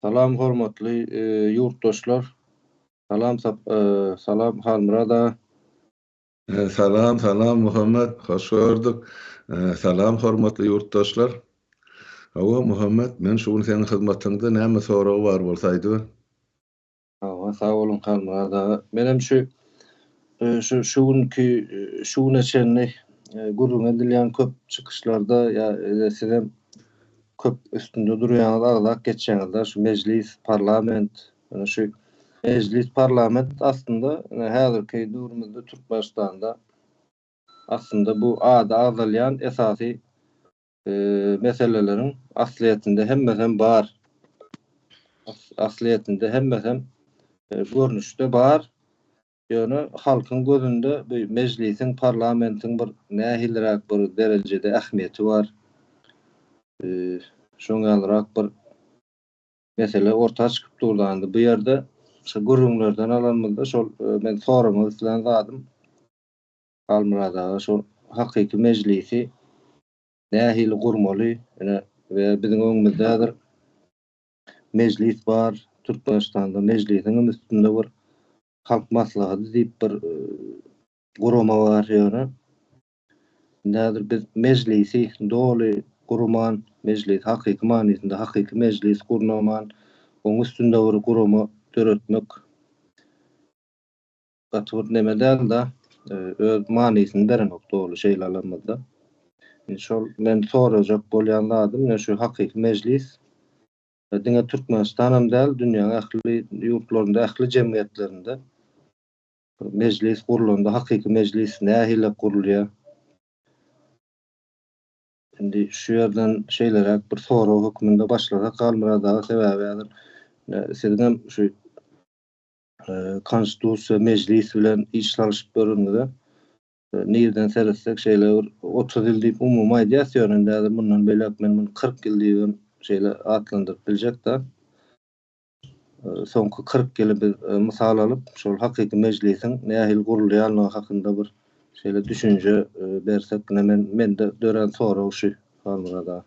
Salam hormatly ýurtdaşlar Salam Salam Halmyrat aga. Salam Salam Muhammet hoş gördük Salam hormatly ýurtdaşlar Hawa Muhammet men şu gün seň hyzmatyňda näme soragy bar bolsa aýdyber. Hawa, sag boluň Halmyrat aga. Menem şu şu şu günki şu güne çenli gürrüň edilýän köp çykyşlarda ýa sizem köp üstünde durýaňyz, agzap geçýäňiz-de şu mejlis, parlament, ýöne şu mejlis, parlament aslynda ine häzirki döwrümizde Türkmenistanda aslynda bu ady agzalýan esasy meseleleriň aslyýetinde hemmesem bar. Aslyýetinde hemmesem e, görnüşde bar. Ýöne halkyň gözünde bu mejlisiň, parlamentiň bir nähiliräk bir derejede ähmiýeti bar. E, şoň ýalyrak bir mesele orta çykyp durlandy. Bu ýerde şu gürrüňlerden alanymyzda şol e, men soramak islän zadym Halmyrat aga şu hakyky mejlisi nähili gurmaly ine we biziň öňümizde häzir mejlis bar Türkmenistanda mejlisiňem üstünde bir halk maslahaty diýip bir gurama bar ýöne indi häzir biz mejlisi doly gurman mejlisi hakyky manysynda hakyky mejlis gurnaman oň üstünde bir gurama döretmek gaty bir neme däldi öz manysyny berenok doly şeýle alamada şol men sorajak bolýan zadym ne şu hakyky mejlis diňe türkmenistan hem däl dünýäň ähli ýurtlarynda ähli jemgyýetlerinde mejlis gurlanda hakyky mejlis nähili gurulýar indi şu ýerden şeýleräk bir sorag hökmünde başlasak galmyrat aga sebäbi häzir siziň hem şu Konstitusiýa, Mejlis bilen iş salyşyp göreniňize, nireden seretsek şeýle bir otuz ýyl diýip umumy aýdýas, ýöne indi häzir mundan beýläk men muny kyrk ýyl diýip hem şeýle atlandyryp biljek-dä. Soňky kyrk ýyly biz mysal alyp, şol hakyky Mejlisiň nähili gurulýanlygy hakynda bir şeýle düşünje bersek, ine men mende dörän sorag şu, Halmyrat aga.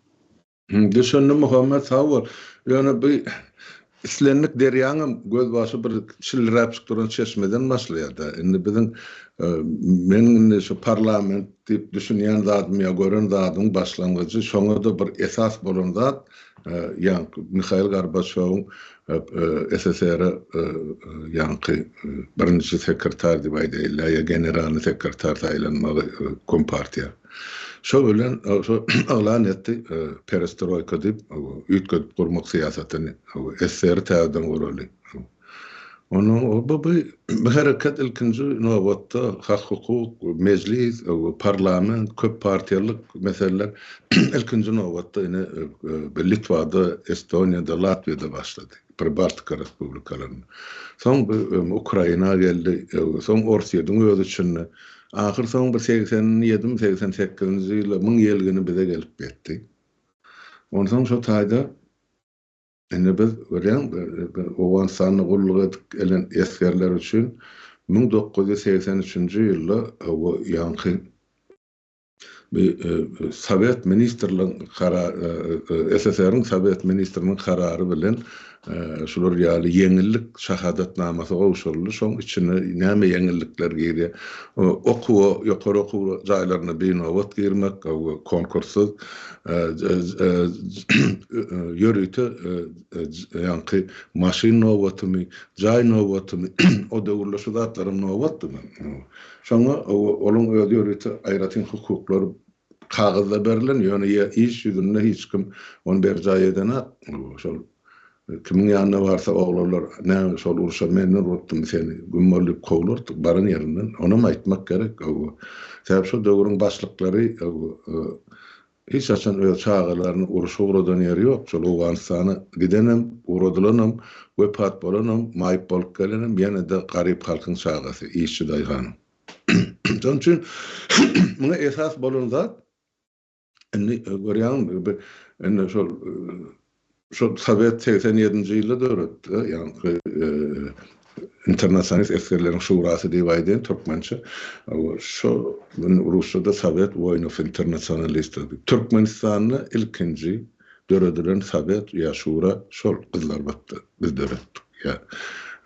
Düşündim Muhammet sag bol. Ýöne bu islendik derýaňam gözbaşy bir çilliräpjik duran çeşmeden başlaýar-da. Indi biziň meniň indi şu parlament diýip düşünýän zadym ýa gören zadymyň başlangyjy şoňa-da bir esas bolan zat ýaňky Mihail Gorbaçýowyň SSR-e ýaňky birinji sekretar diýip aýdaýylda ýa generalnyý sekretar saýlanmagy kompartiýa. Şol bilen yglan etdi, perestroýka diýip, üýtgedip gurmak syýasatyny, SSR-i täzeden guraly. Onda bu hereket ilkinji nobatda hak-hukuk, mejlis, parlament, köp partiýalyk meseleler ilkinji nobatda ine Litwada, Estoniýada, Latwiýada başlady. Pribaltika respublikalaryna. Soň bu Ukraina geldi, soň Orsýetiň öz içinde. Ahyr soň bir segsen ýedimi, segsen sekizinji ýyla müň ýyl gini bize gelip ýetdi. Onsoň şo taýda indi biz görýäň, Owganystanda gulluk edip gelen esgerler üçin müň dokuz ýüz segsen üçünji ýylda bu ýaňky Bu Sowet ministrligiň karary, SSR-iň Sowet ministriniň karary bilen şular ýaly ýeňillik şahadatnamasy gowşuryldy. Şoň içine näme ýeňillikler girýär? Okuwa, ýokary okuw jaýlaryna binobat girmek, konkurssyz, ýörite ýaňky maşyn nobatumy, jaý nobatumy, o döwürler şu zatlaram nobatdymy? Şoňa onuň özi ýörite aýratyn hukuklar kagyzda berlen, ýöne iş ýüzünde hiç kim ony berjaý edenak. Şol kimiň ýanyna barsa oglanlar, Näme, şol urşa men urupdym seni, güm bol diýip kowlardyk baran ýerinden. Onam aýtmak gerek. Sebäbi şo döwrüň başlyklary Hiç haçan öz çagalaryny uruşa ugradan ýeri ýok, şol Owganystana gidenem, ugradylanam, wepat bolanam, maýyp bolup gelenem ýene-de garyp halkyň çagasy, işçi daýhanyň. Şonuň üçin muňa esas bolan zat, indi görýäňmi, indi şol Şol Sowet segsen ýedinji ýylda döretdi, ýaňky Internasionalist esgerleriň şurasy diýip aýdaýyn türkmençe. Şo gün rusçada Sowet woýnow internasionalistler diýip. Türkmenistanda ilkinji döredilen sowet ýa şura şol Gyzlarbatda biz döretdik. Ýa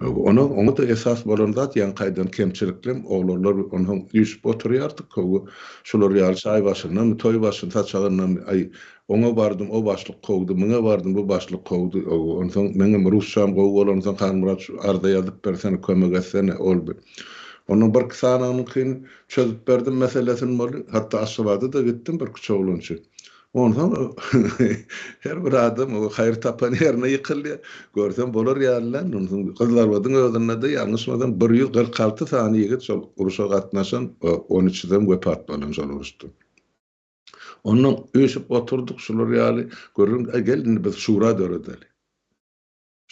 Onuň oňa-da esas bolan zat ýaňky aýdan kemçiliklem oglanlar onsoň üýşüp oturýardyk, köwi şular ýaly çaý başyndanmy, toý başyn saçagyndamy, aý, Oňa bardym, o başlyk kowdy, muňa bardym, bu başlyk kowdy. Onsoň meňem rusçam gowy bolansoň, Halmyrat, şu arza ýazyp bersene, kömek etsene, olby. Ondan birki sanaňyňkyny çözüp berdim meselesini boldy. Hatda Aşgabada-da gitdim birkiçe oglan üçin. Onsoň her bir adam haýyr tapan ýerine ýykylýar. Görsem bolar ýaly däl. Onsoň Gyzlarbadyň özünde-de ýalňyşmasam bir ýüz kyrk alty sany ýigit şol urşa gatnaşan, on üçüsem wepat bolan şol uruşda. Onnoň üýşüp oturdyk şular ýaly, gördüm, äý gel indi biz şura döredeli.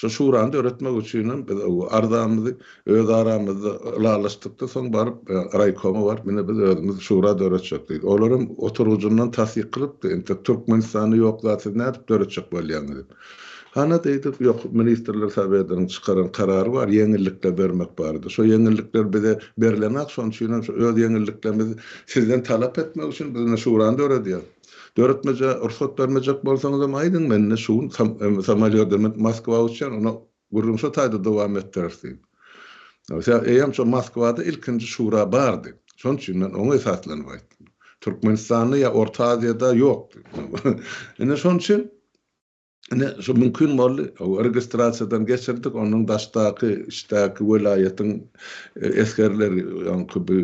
Şo şurany döretmek üçinem biz öwi arzamyzy öz aramyzda ylalaşdykda soň baryp raýkoma baryp ine biz özümiz şura döretjek diýdik. Olar hem oturgyjyndan tassyk kylypdy, entek Türkmenistanda ýok zat siz nädip döretjek bolýaňyz diýip. Hany diýdik, ýok, Ministrler Sowetiniň çykaran karary bar, ýeňillikler bermek barada. Şo ýeňillikler bize berlenak, şonuň üçin hem şu öz ýeňilliklerimizi sizden talap etmek üçin biz indi şurany döredýäs. Döretmejä rugsat bermejek bolsaňyzam aýdyň, mende şu gün samolýodymyz Moskwa uçýan, ony Gürrüň şo taýda dowam etdirer diýip. Sebäbi eýýäm şo Moskwada ilkinji şura bardy. Şonuň üçin men oňa esaslanyp aýtdym. Türkmenistanda ýa Orta Aziýada ýokdy. Ine şonuň üçin ine şu mümkin boldy. Registrasiýadan geçirdik. Ondan daşdaky, içdäki welaýatyň esgerleri, öňki bu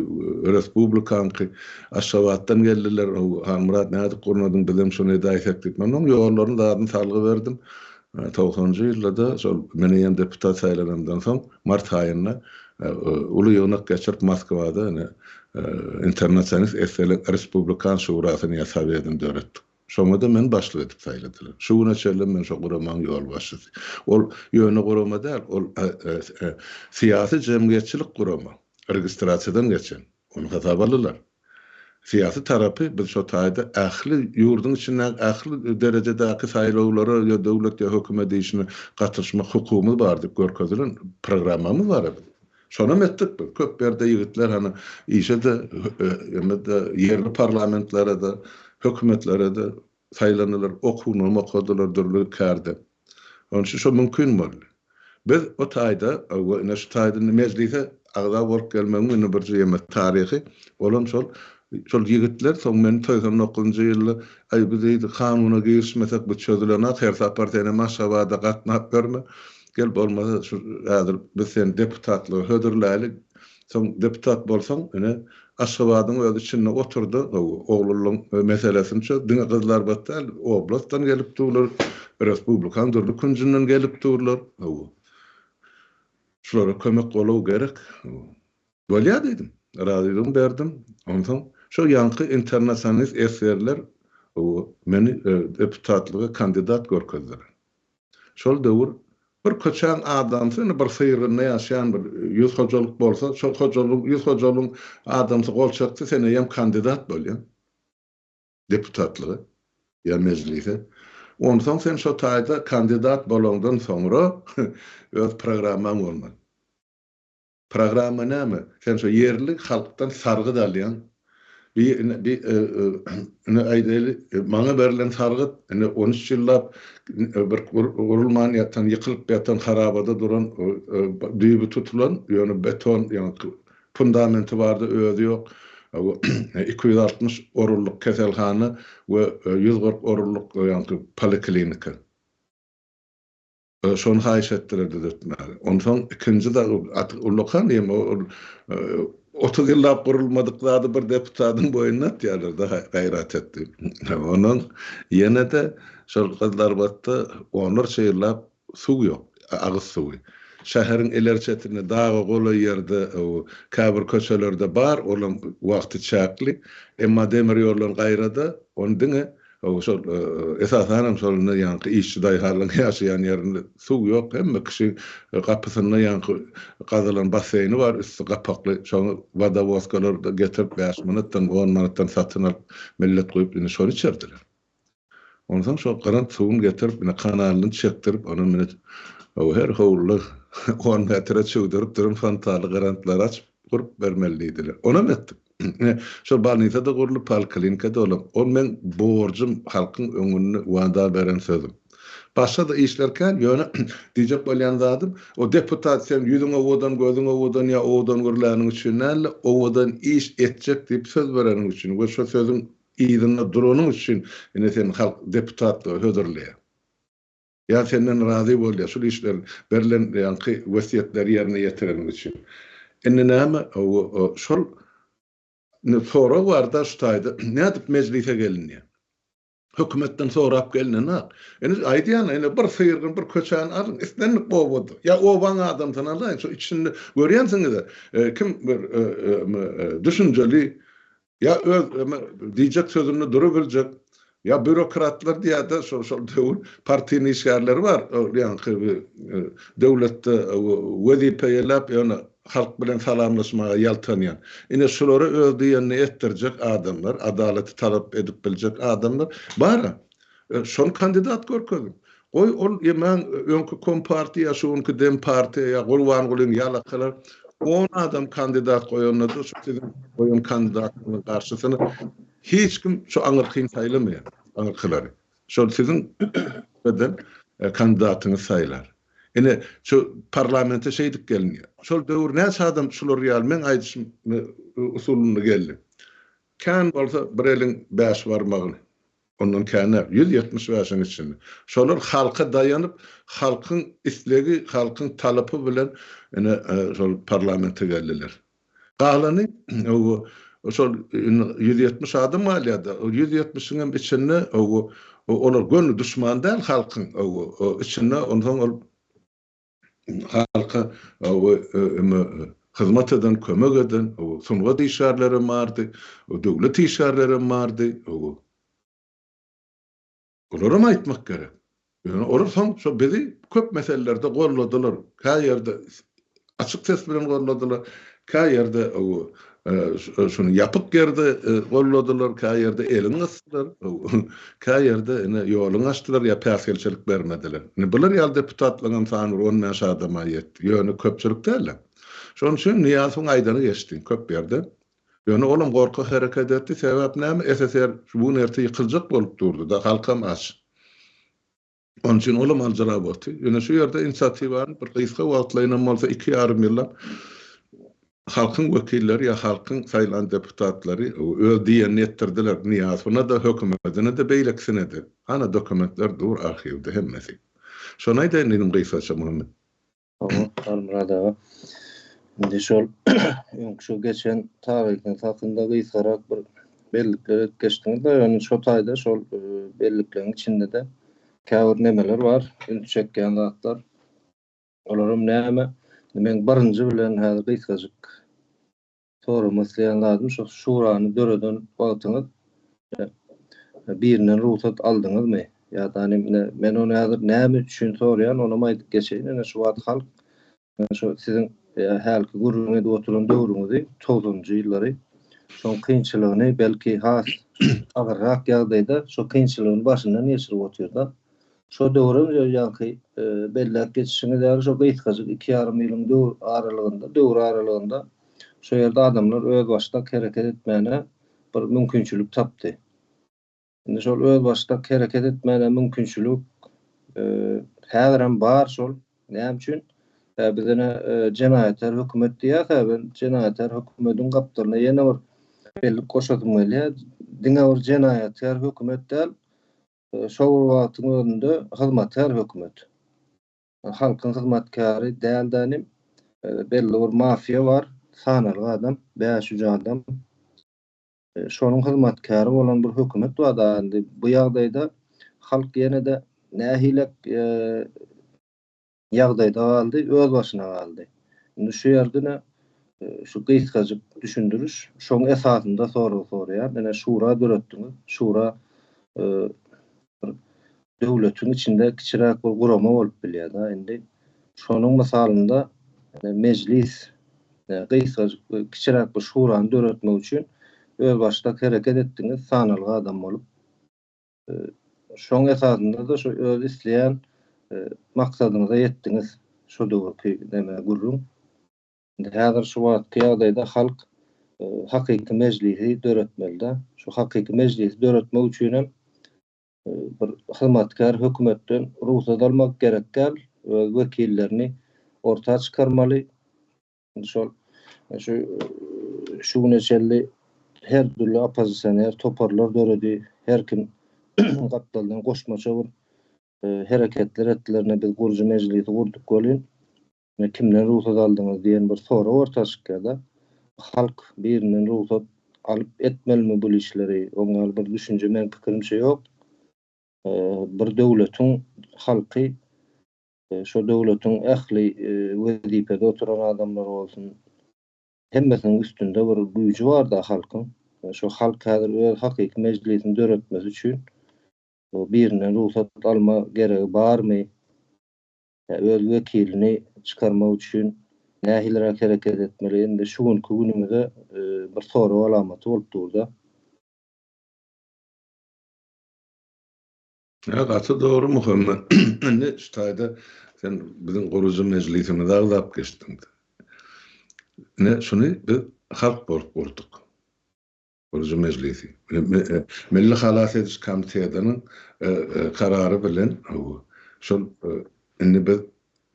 respublikaňky Aşgabatdan geldiler. Halmyrat nädip gurnadyň, bizem şony edäýsek diýip. Men onuň ýollaryny, zadyny salgy berdim. Togsanjy ýylda-da şol men eýýäm deputat saýlananymdan soň mart aýynda uly ýygnak geçirip Moskwada ine Internasionalist esselik respublikan şurasyny ýa sowedini döretdik. Şoňa-da meni başlyk edip saýladylar. Şu güne çenlem men şo guramanyň ýolbaşçysy. Ol ýöne gurama däl, ol syýasy jemgyýetçilik gurama, registrasiýadan geçen. Ony hasaba aldylar. Syýasy tarapy biz şo taýda ähli ýurduň içindäki ähli derejedäki saýlawlara ýa döwlet ýa hökümet işine gatyşmak hukugymyz bar diýip görkezilen programmamyz bar-a biziň. Şonam etdik biz. Köp ýerde ýigitler hany işe-de, emede, ýerli parlamentlara-da, hökümetlere-de saýlandylar, okuwynam okadylar dürli kärde. Onuň üçin şo mümkin boldy. Biz o taýda we ine şu taýda indi Mejlise agza bolup gelmegiň indi bir jemgyýet taryhy, olam şol, şol ýigitler soň men segsen dokuzynjy ýylda, Aý, biz indi kanuna girişmesek bu çözülenak, her sapar sen hem Aşgabada gatnap ýörme, gel bolmasa şu häzir biz seni deputatlyga hödürläýeli, Soň deputat bolsaň ine Aşgabadyň özi içinde oturdy gowy oglullaň meselesini çöz diňe gyzlar bat däl oblastdan gelip durlar respublikaň dürli künjünden gelip durlar gowy şulara kömek boluw gerek gowy bolýa diýdim razylygymy berdim onsoň şo ýaňky internasionalist esgerler gowy meni deputatlyga kandidat görkezdiler Şol döwür bir köçäň adamsy indi bir syrgynda ýaşaýan bir ýüz hojalyk bolsa, şol hojalygyň, ýüz hojalygyň adamsy gol çekse, sen eýýäm kandidat bolýaň deputatlyga ýa mejlise. Onsoň sen şo taýda kandidat bolaňdan soňra öz programmaň bolmaly. Programma näme? Sen şo ýerli halkdan sargyt alýaň. Bi ine bi ine aýdaýly maňa berlen sargyt ine on üç ýyllap bir gurulman ýatan ýykylyp ýatan harabada duran düýbi tutulan ýöne beton ýaňky fundamenti bardy özi ýok iki ýüz altmyş orunlyk keselhana we ýüz kyrk orunlyk ýaňky poliklinika. Şony haýyş etdiler düzetmäge. Onsoň ikinji dag ullakan diýem ol otuz ýyllap gurulmadyk zady bir deputadyň boýnuna atýarlar-da gaýrat et diýip. Onuň ýene-de şol Gyzlarbatda onlarça ýyllap suw ýok, agyz suwy. Şäheriň ileri çetinde daga golaý ýerde käbir köçelerde bar, olam wagty çäkli. Emma demir ýollaryň gaýra-da ony diňe Şol esasanam şol ýaňky işçi daýhanlaryň ýaşaýan ýerinde suw ýok, hemme kişi gapysynda ýaňky gazylan basseýni bar, üsti gapakly, şoňa wodowodkalarda getirip bäş manatdan, on manatdan satyn alyp, millet guýup indi şony içerdiler. Onsoň şo gyran suwuny getirip, ine kanalyny çekdirip, ony mine her howluda on metre çüwdürip duran fontaly gyrantlary açyp gurup bermeli diýdiler. Onam etdik. Ine, şol bolnisa-da gurlup, poliklinika-da dolap, ol meň borjum, halkyň öňünde wada beren sözüm. Başga-da işler kän, ýöne diýjek bolýan zadym, o deputat sen ýüzüň owadan, gözüň owadan ýa owadan gürläniň üçin däl-de, owadan iş etjek diýip söz bereniň üçin we şo sözüň yzynda duranyň üçin, ine, seni halk deputatlyga hödürleýär. Ýa senden razy bolýar şul işler berlen ýaňky wesýetleri ýerine ýetireniň üçin. Indi näme şol sorag barda şu taýda nädip mejlise gelinýär? Hökümetden sorap gelnenak. Indi aýdýan indi bir syrgyny bir köçäni alyň islendik obada ýa obaň adamsyny alaýyň şo içinde görýänsiňiz kim bir düşünjeli Ýa öz eme diýjek sözünde durabiljek, ýa býurokratlar diýýärde şo şol döwür partiýnyň işgärleri bar, ol ýaňky bi e, döwletde e, we wezipe eýläp ýöne halk bilen salamlaşmaga ýaltanýan. Ine şulara öz diýenini etdirjek adamlar, adalaty talap edip biljek adamlar bar-a. E, şony kandidat görkeziň. Goý ol ýaman öňki kompartiýa şu günki dempartiýa ýa Gurbangulyň ýalakalar on adam kandidat goýanlarda şu siziň goýan kandidatyňyzyň garşysyna hiç kim şu aňyrkyny saýlamaýar aňyrkylary şol siziň eden kandidatyňyz saýlar ine şu parlamente şeýdip gelinýär şol döwür näçe adam şular ýaly meň aýdyşym usulynda geldi kän bolsa bir eliň bäş barmagyny ondan kämä, ýüz ýetmiş bäşiň içinde. Şolar halka daýanyp, halkyň islegi, halkyň talapy bilen ine, şol parlamente geldiler. Galany, owo, şol indi ýüz ýetmiş adam galýar-da, ol ýüz ýetmişiň hem içinde, owo, olar göni duşman däl halkyň, owo, içinde, onsoň ol, halka hyzmat eden, kömek eden sungat işgärlerem bardy, döwlet işgärlerem bardy. Olaram aýtmak gerek. Ýöne olar soň şo bizi köp meselelerde golladylar. Käýerde açyk ses bilen golladylar, käýerde Şuny ýapyk ýerde golladylar, käýerde elin gysdylar, käýerde ine ýoluň açdylar ýa päsgelçilik bermediler. Ine bular ýaly deputatlaňam sany bir on bäş adama ýetdi. Ýöne köpçülik dälä. Şonuň üçin Nyýazowyň aýdany geçdi köp ýerde. Ýöne olam gorkak hereket etdi. Sebäp näme? SSR şu gün-erte ýykyljak bolup durdy-da, halkam aç. Onuň üçin olam aljyra boldy. Ýöne şu ýerde inisiatiwany bir gysga wagtlaýyn hem bolsa iki ýarym ýyllap halkyň wekilleri ýa halkyň saýlan deputatlary öz diýenini etdirdiler. Nyýazowyna-da, hökümetine-de, beýlekisine-de. Hana dokumentler dur arhiwde hemmesi. Şony aýdaýyn inim gysgaça Muhammet. Halmyrat aga. Indi şol öňki şu geçen taryhyňyz hakynda gysgarak bir bellikler edip geçdiňiz we ýöne şo taýda şol e, bellikleriň içinde-de käbir nemeler bar, üns çekýän zatlar. Olaram näme? Men birinji bilen häzir gysgajyk soramak isleýän zadym şo şurany döreden wagtyňyz birinden rugsat aldyňyzmy ýa-da indi men ony häzir näme üçin soraýan onam aýdyp geçeýin ine şu wagt halk şo siziň hälki gürrüň edip oturan döwrüňizi togsanjy ýyllary şoň kynçylygyny belki has agyrrak ýagdaýda şo kynçylygyny başyndan geçirip otyrda Şo döwrem şo ýaňky belläp geçişiňiz ýaly şo gysgajyk iki ýarym ýylyň döwür aralygynda, döwür aralygynda şo ýerde adamlar özbaşdak hereket etmäne bir mümkinçilik tapdy. Indi şol özbaşdak hereket etmäne mümkinçilik häzirem bar şol. Näme üçin? Ä biz ine jenaýatkär hökümet diýýäs-ä, men jenaýatkär hökümediň gapdalyna ýene bir bellik goşasym gelýär. Diňe bir jenaýatkär hökümet däl, Şol bir wagtyň özünde hyzmatkär hökümet. Halkyň hyzmatkäri däldanem belli bir mafiýa bar, sanaly adam, bäş üç adam. Şonuň hyzmatkäri bolan bir hökümet bar da indi bu ýagdaýda halk ýene-de nähilek ýagdaýda galdy, öz başyna galdy. Indi şu ýerdene şu gysgajyk düşündiriş, şoň esasynda sorag soraýan. Ine şura döretdiňiz, şura bir döwletiň içinde kiçiräk bir gurama bolup bilýär-de. Indi şonuň mysalynda Mejlis gysgajyk bir kiçiräk bir şurany döretmek üçin özbaşdak hereket etdiňiz, sanalga adam bolup. Şoň esasynda-da şu öz isleýän maksadyňyza ýetdiňiz şu döwürki neme gürrüň. Indi häzir şu wagtky ýagdaýda halk hakyky mejlisi döretmeli-dä. Şu hakyky mejlisi döretmek üçin hem bir hyzmatkär hökümetden rugsat almak gerek däl, öz wekillerini orta çykarmaly. şol şu şu güne çenli her dürli oppozisioner toparlar döredi, her kim gapdaldan goşmaça bir e, hereketler etdilerine biz gurujy mejlisi gurduk welin kimden rugsat aldyňyz diýen bir sorag orta çykýar-da. Halk birinden rugsat alyp etmelimi bu işleri? Oňa bir düşünje men pikirimçe ýok. E, bir döwletiň halky şo döwletiň ähli wezipede oturan adamlary bolsun, hemmesiniň üstünde bir güýji bar-da halkyň. Şo halk häzir öz hakyky mejlisini döretmesi üçin birinden rugsat alma geregi barmy? Öz wekilini çykarmak üçin nähiliräk hereket etmeli? Indi şu günki günümize bir sorag alamaty bolup dur-da. Ýa gaty dogry Muhammet. Indi şu taýda sen biziň gurujy mejlisimizi agzap geçdiň. Ne şuny biz halk bolup gurduk. Gurujy mejlisi. Milli halas ediş komitetiniň karary bilen şol indi biz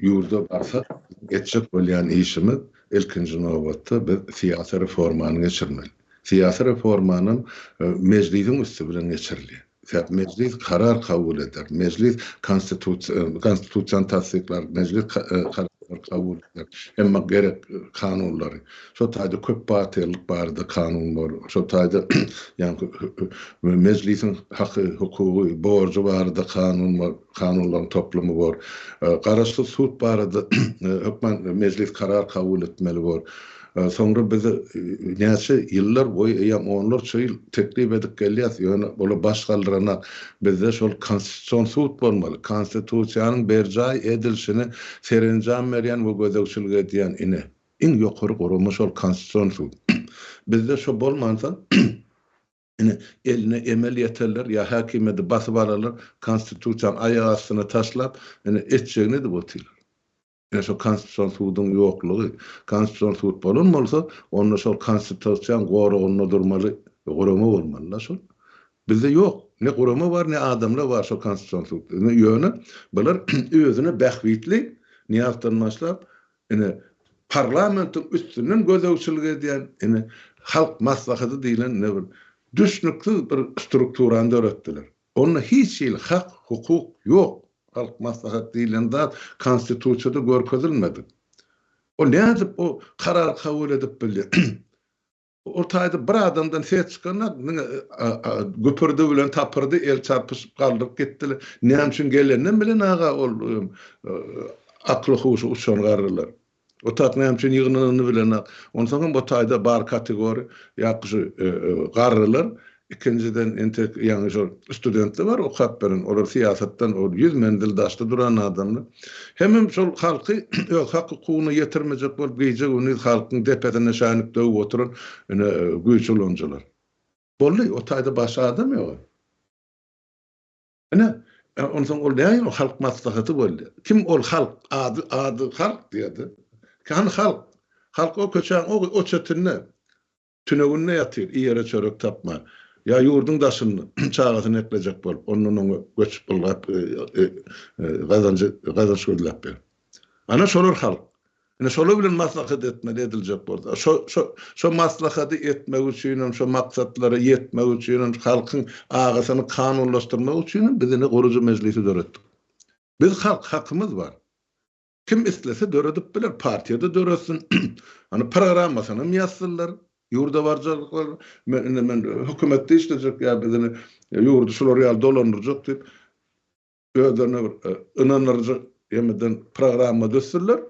Ýurda barsak, biziň etjek bolýan işimiz, ilkinji nobatda, biz syýasy reformany geçirmeli. Syýasy reformanam Mejlisiň üsti bilen geçirilýär. Sebäbi Mejlis karar kabul eder, Mejlis Konstitusiýany tassyklar, Mejlis kararlary kabul eder, emma gerek kanunlary, şol taýda köp partiýalylyk barada kanun bar, şol taýda ýa-da Mejlisiň haky, hukugy, borjy barada kanun bar. kanunlaryň toplumy bor. Garaşsyz sud barada hökman mejlis karar kabul etmeli bor. Soňra biz näçe ýyllar boýy, eýýäm onlarça ýyl teklip edip gelýäs, ýöne ola baş galdyranak. Bizde şol Konstitusion sud bolmaly, Konstitusiýanyň berjaý edilişine serenjam berýän we gözegçilik edýän ine, iň ýokary gurama şol Konstitusion sud. Bizde şo bolmansoň, Ine, eline emel ýeterler ýa häkimiýeti basyp alarlar, Konstitusiýany aýak astyna taşlap, ine, etjegini edip otyrlar. Ine, şo Konstitusion suduň ýoklugy. Konstitusion sud bolan bolsa, onda şol Konstitusiýaň goragynda durmaly gurama bolmaly-da şol. Bizde ýok. Ne gurama bar, ne adamlar bar şo Konstitusion sudda. Ýöne bular özüne bähbitli, Nyýazdan başlap, Ine, parlamentiň üstünden gözegçilik edýän, ine, Halk Maslahaty diýlen ine bir düşnüksiz bir strukturany döretdiler. Onda hiç hili hak, hukuk ýok. Halk Maslahaty diýlen zat Konstitusiýada görkezilmedi. Ol nädip o karary kabul edip bildi? Ol taýda bir adamdan ses çykanok, diňe güpürdi bilen tapyrdy, el çarpyşyp galdyryp gitdiler. Näme üçin geleninden bilen aga ol akly-huşy uçan garrylar. Otag näme üçin ýygnananyny bilenok. Onsoňam o taýda bar kategoriýa ýa-da şu garrylar Ikinjiden, entek, ýaňy şol studentler bar okap beren, olar syýasatdan ol ýüz menzil daşda duran adamlar. Hemem şol halky öz hak-hukugyna ýetirmejek bolup gije-gündiz halkyň depesine şänik döwüp oturan, ine, güýç ulanyjylar. Boldy, o taýda başga adam ýok. Ine, onsoň ol näme o halk maslahaty boldy? Kim ol halk? Ady, ady halk diýýär-de. Hany halk? Halk o köçäň o çetinde. Tüneginde ýatyr, iýere çörek tapman. Ýa ýurduň daşynda, çagasyny eklejek bolup, ondan oňa göçüp ylgap, gazanjy, gazanç gözläp ber. Ana, şolar halk. Ine, şolar bilen maslahat etmeli, ediljek bolsa. Şo, şo, şo maslahady etmek üçinem, şo maksatlara ýetmek üçinem, halkyň agasyny kanunlaşdyrmak üçinem biz indi gurujy mejlisi döretdik. Biz halk, hakymyz bar. Kim islese döredip biler, partiýada döretsin. Hany programmasyny ýazsynlar, ýurda barjarlyklar, men indi men hökümetde işlejek ýa biz indi ýurdy şular ýaly dolandyrjak diýip özlerine bir ynandyrjak ýemeden programma düzsünler.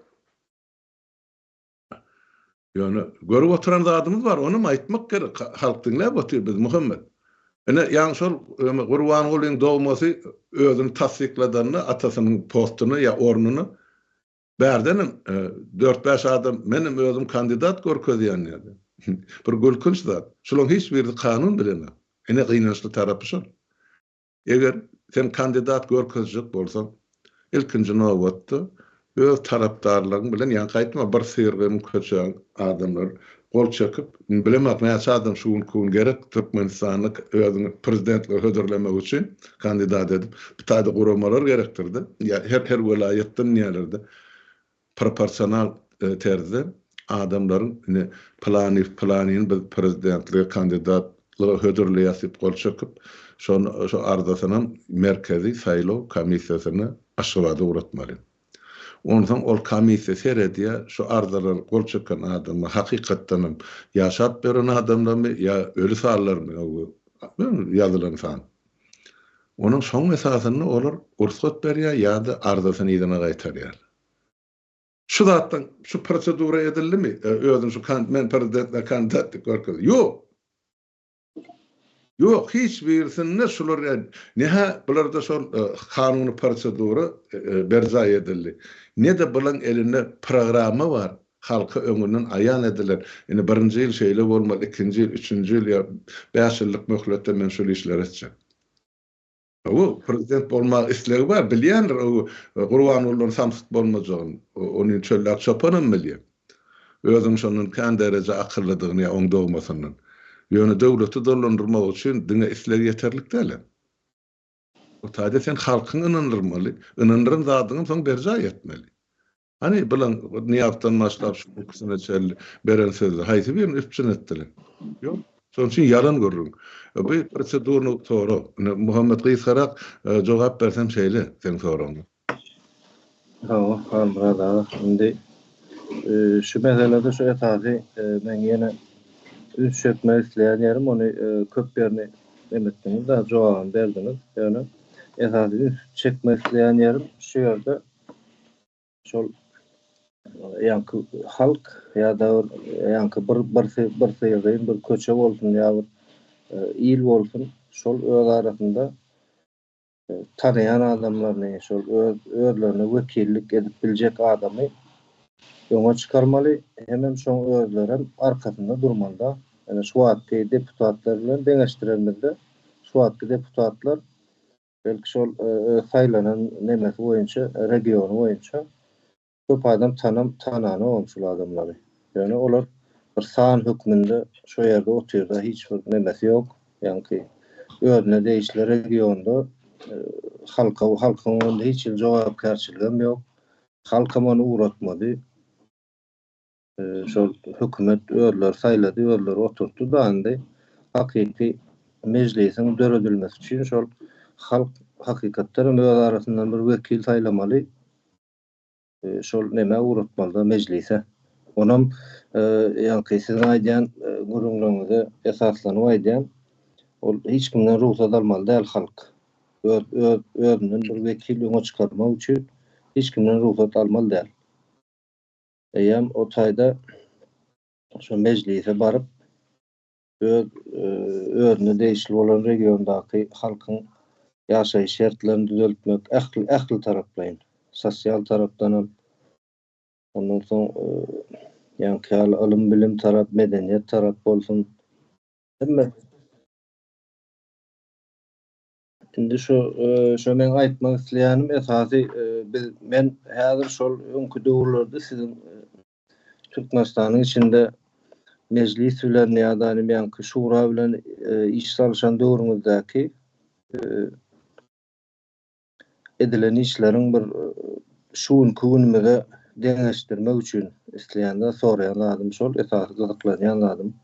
Ýöne görüp oturan zadymyz bar, onam aýtmak gerek, halk diňläp otyr biz Muhammet. Ine, ýaňy şol Gurbangulyň dogmasy özüni tassykladanda atasynyň postuny ýa ornuny bärdenem dört-bäş adam menem özüm kandidat görkezýän diýdi. Bir gülkünç zat. Şularyň hiç birisi kanun bilenok. Ine gynançly tarapy şol. Eger sen kandidat görkezjek bolsaň, ilkinji nobatda öz tarapdarlaryň bilen, ýa gaýtma bir syrygym köçäň adamlar gol çekip, bilemok näçe adam şu günki gün gerek Türkmenistanda özüňi prezidentlige hödürlemek üçin kandidat edip, bir taýda guramalar gerekdir-de, ýa her her welaýatdan diýýärler-de. proporsional terzde adamlaryň indi pylanyýew pylanyny biz prezidentlige kandidatlyga hödürleýäs diýip gol çekip, şony şo arzasynam Merkezi saýlaw komissiýasyna Aşgabada ugratmaly. Onsoň ol komissiýa seredýär, şu arzalary gol çeken adamlar hakykatdanam ýaşap ýören adamlarmy ýa öli sanlarmy ýazylan san. Onuň soň esasynda olar rugsat berýär ýa-da arzasyny yzyna gaýtarýar. Şu zatdan şu prosedura edildimi? Özüm şu kan men prezidentlige kandidat diýip görkezdim. Ýok. Ýok, hiç birisinde şular ed. Ne-hä bularda şol kanuny prosedura berjaý edildi. Ne-de bulaň elinde programma bar, Halka öňünden aýan edilen, indi birinji ýyl şeýle bolmaly, ikinji ýyl, üçünji ýyl ýa bäş ýyllyk möhletde men şol işleri etjek. Hawa, prezident bolma islegi bar, bilýändir o Gurbangulydan samsyk bolmajagyny, ony çöllak çopanam bilýär. Özüniň şondan kän dereje akyllydygyny ýa oň dogmasyndan. Ýöne döwleti dolandyrmak üçin diňe isleg ýeterlik dälem. Ol taýda sen halkyňy ynandyrmaly, ynandyran zadyňam soň berjaý etmeli. Hany, bilaň, Nyýazdan başlap şu ikisine çenli beren sözi haýsy birini üpjün etdiler? Ýok. Şonuň üçin ýalan gürrüň. Bu prosedurny sorag. Indi Muhammet gysgarak jogap bersem şeýle seň soragyňa. Hawa, Halmyrat aga. Indi şu meselede şu esasy men ýene üns çekmek isleýän ýerim, ony köp ýerini nem etdiňiz-de, jogabyny berdiňiz. Ýöne esasy üns çekmek isleýän ýerim şu ýerde, şol ýaňky halk ýa-da ýaňky bir birsi birsi ýazýan bir köçe bolsun ýa bir e, il bolsun şol öz arasynda e, tanaýan adamlaryny şol öz özlerine wekillik edip biljek adamy öňe çykarmaly hemem şoň özlerem arkasynda durmalyda ýöne şu wagtky deputatlar bilen deňeşdiremizde şu wagtky deputatlar belki şol öz saýlanan nemesi boýunça, regiony boýunça köp adam tanam, tananogam şul adamlary. Ýöne olar bir san hökmünde şo ýerde otyrda hiç bir nemesi ýok. Ýaňky özüne degişli regionda halka, halkyň öňünde hiç hili jogapkärçiligem ýok. Halkam ony ugratmady. şol hökümet özleri saýlady, özleri oturtdy da indi hakyky mejlisiň döredilmesi üçin şol halk hakykatdan hem öz arasyndan bir wekil saýlamaly. E, şol nämä ugratmalyda mejlise. Onam e, ýaňky siziň aýdýan e, gürrüňleriňize esaslanyp aýdýan, ol hiç kimden rugsat almaly däl halk. Öz öz özünden bir wekil öňe çykarmak üçin hiç kimden rugsat almaly däl. Eýýäm o taýda şo mejlise baryp, öz özüne degişli bolan regiondaky halkyň ýaşaýyş şertlerini düzeltmek, ähli ähli taraplaýyn, sosial tarapdan hem, ondan soň ýaňky ýaly ylym-bilim tarap, medeniýet tarap bolsun, hemme. Indi şu şu men aýtmak isleýänim esasy biz men häzir şol öňki döwürlerde siziň Türkmenistanyň içinde mejlis bilen ýa-da ýanky şura bilen iş salşan döwrüňizdäki edilen işleriň bir şu günki günümize deňeşdirmek üçin isleýän-de soraýan zadym şol esasy gyzyklanýan zadym.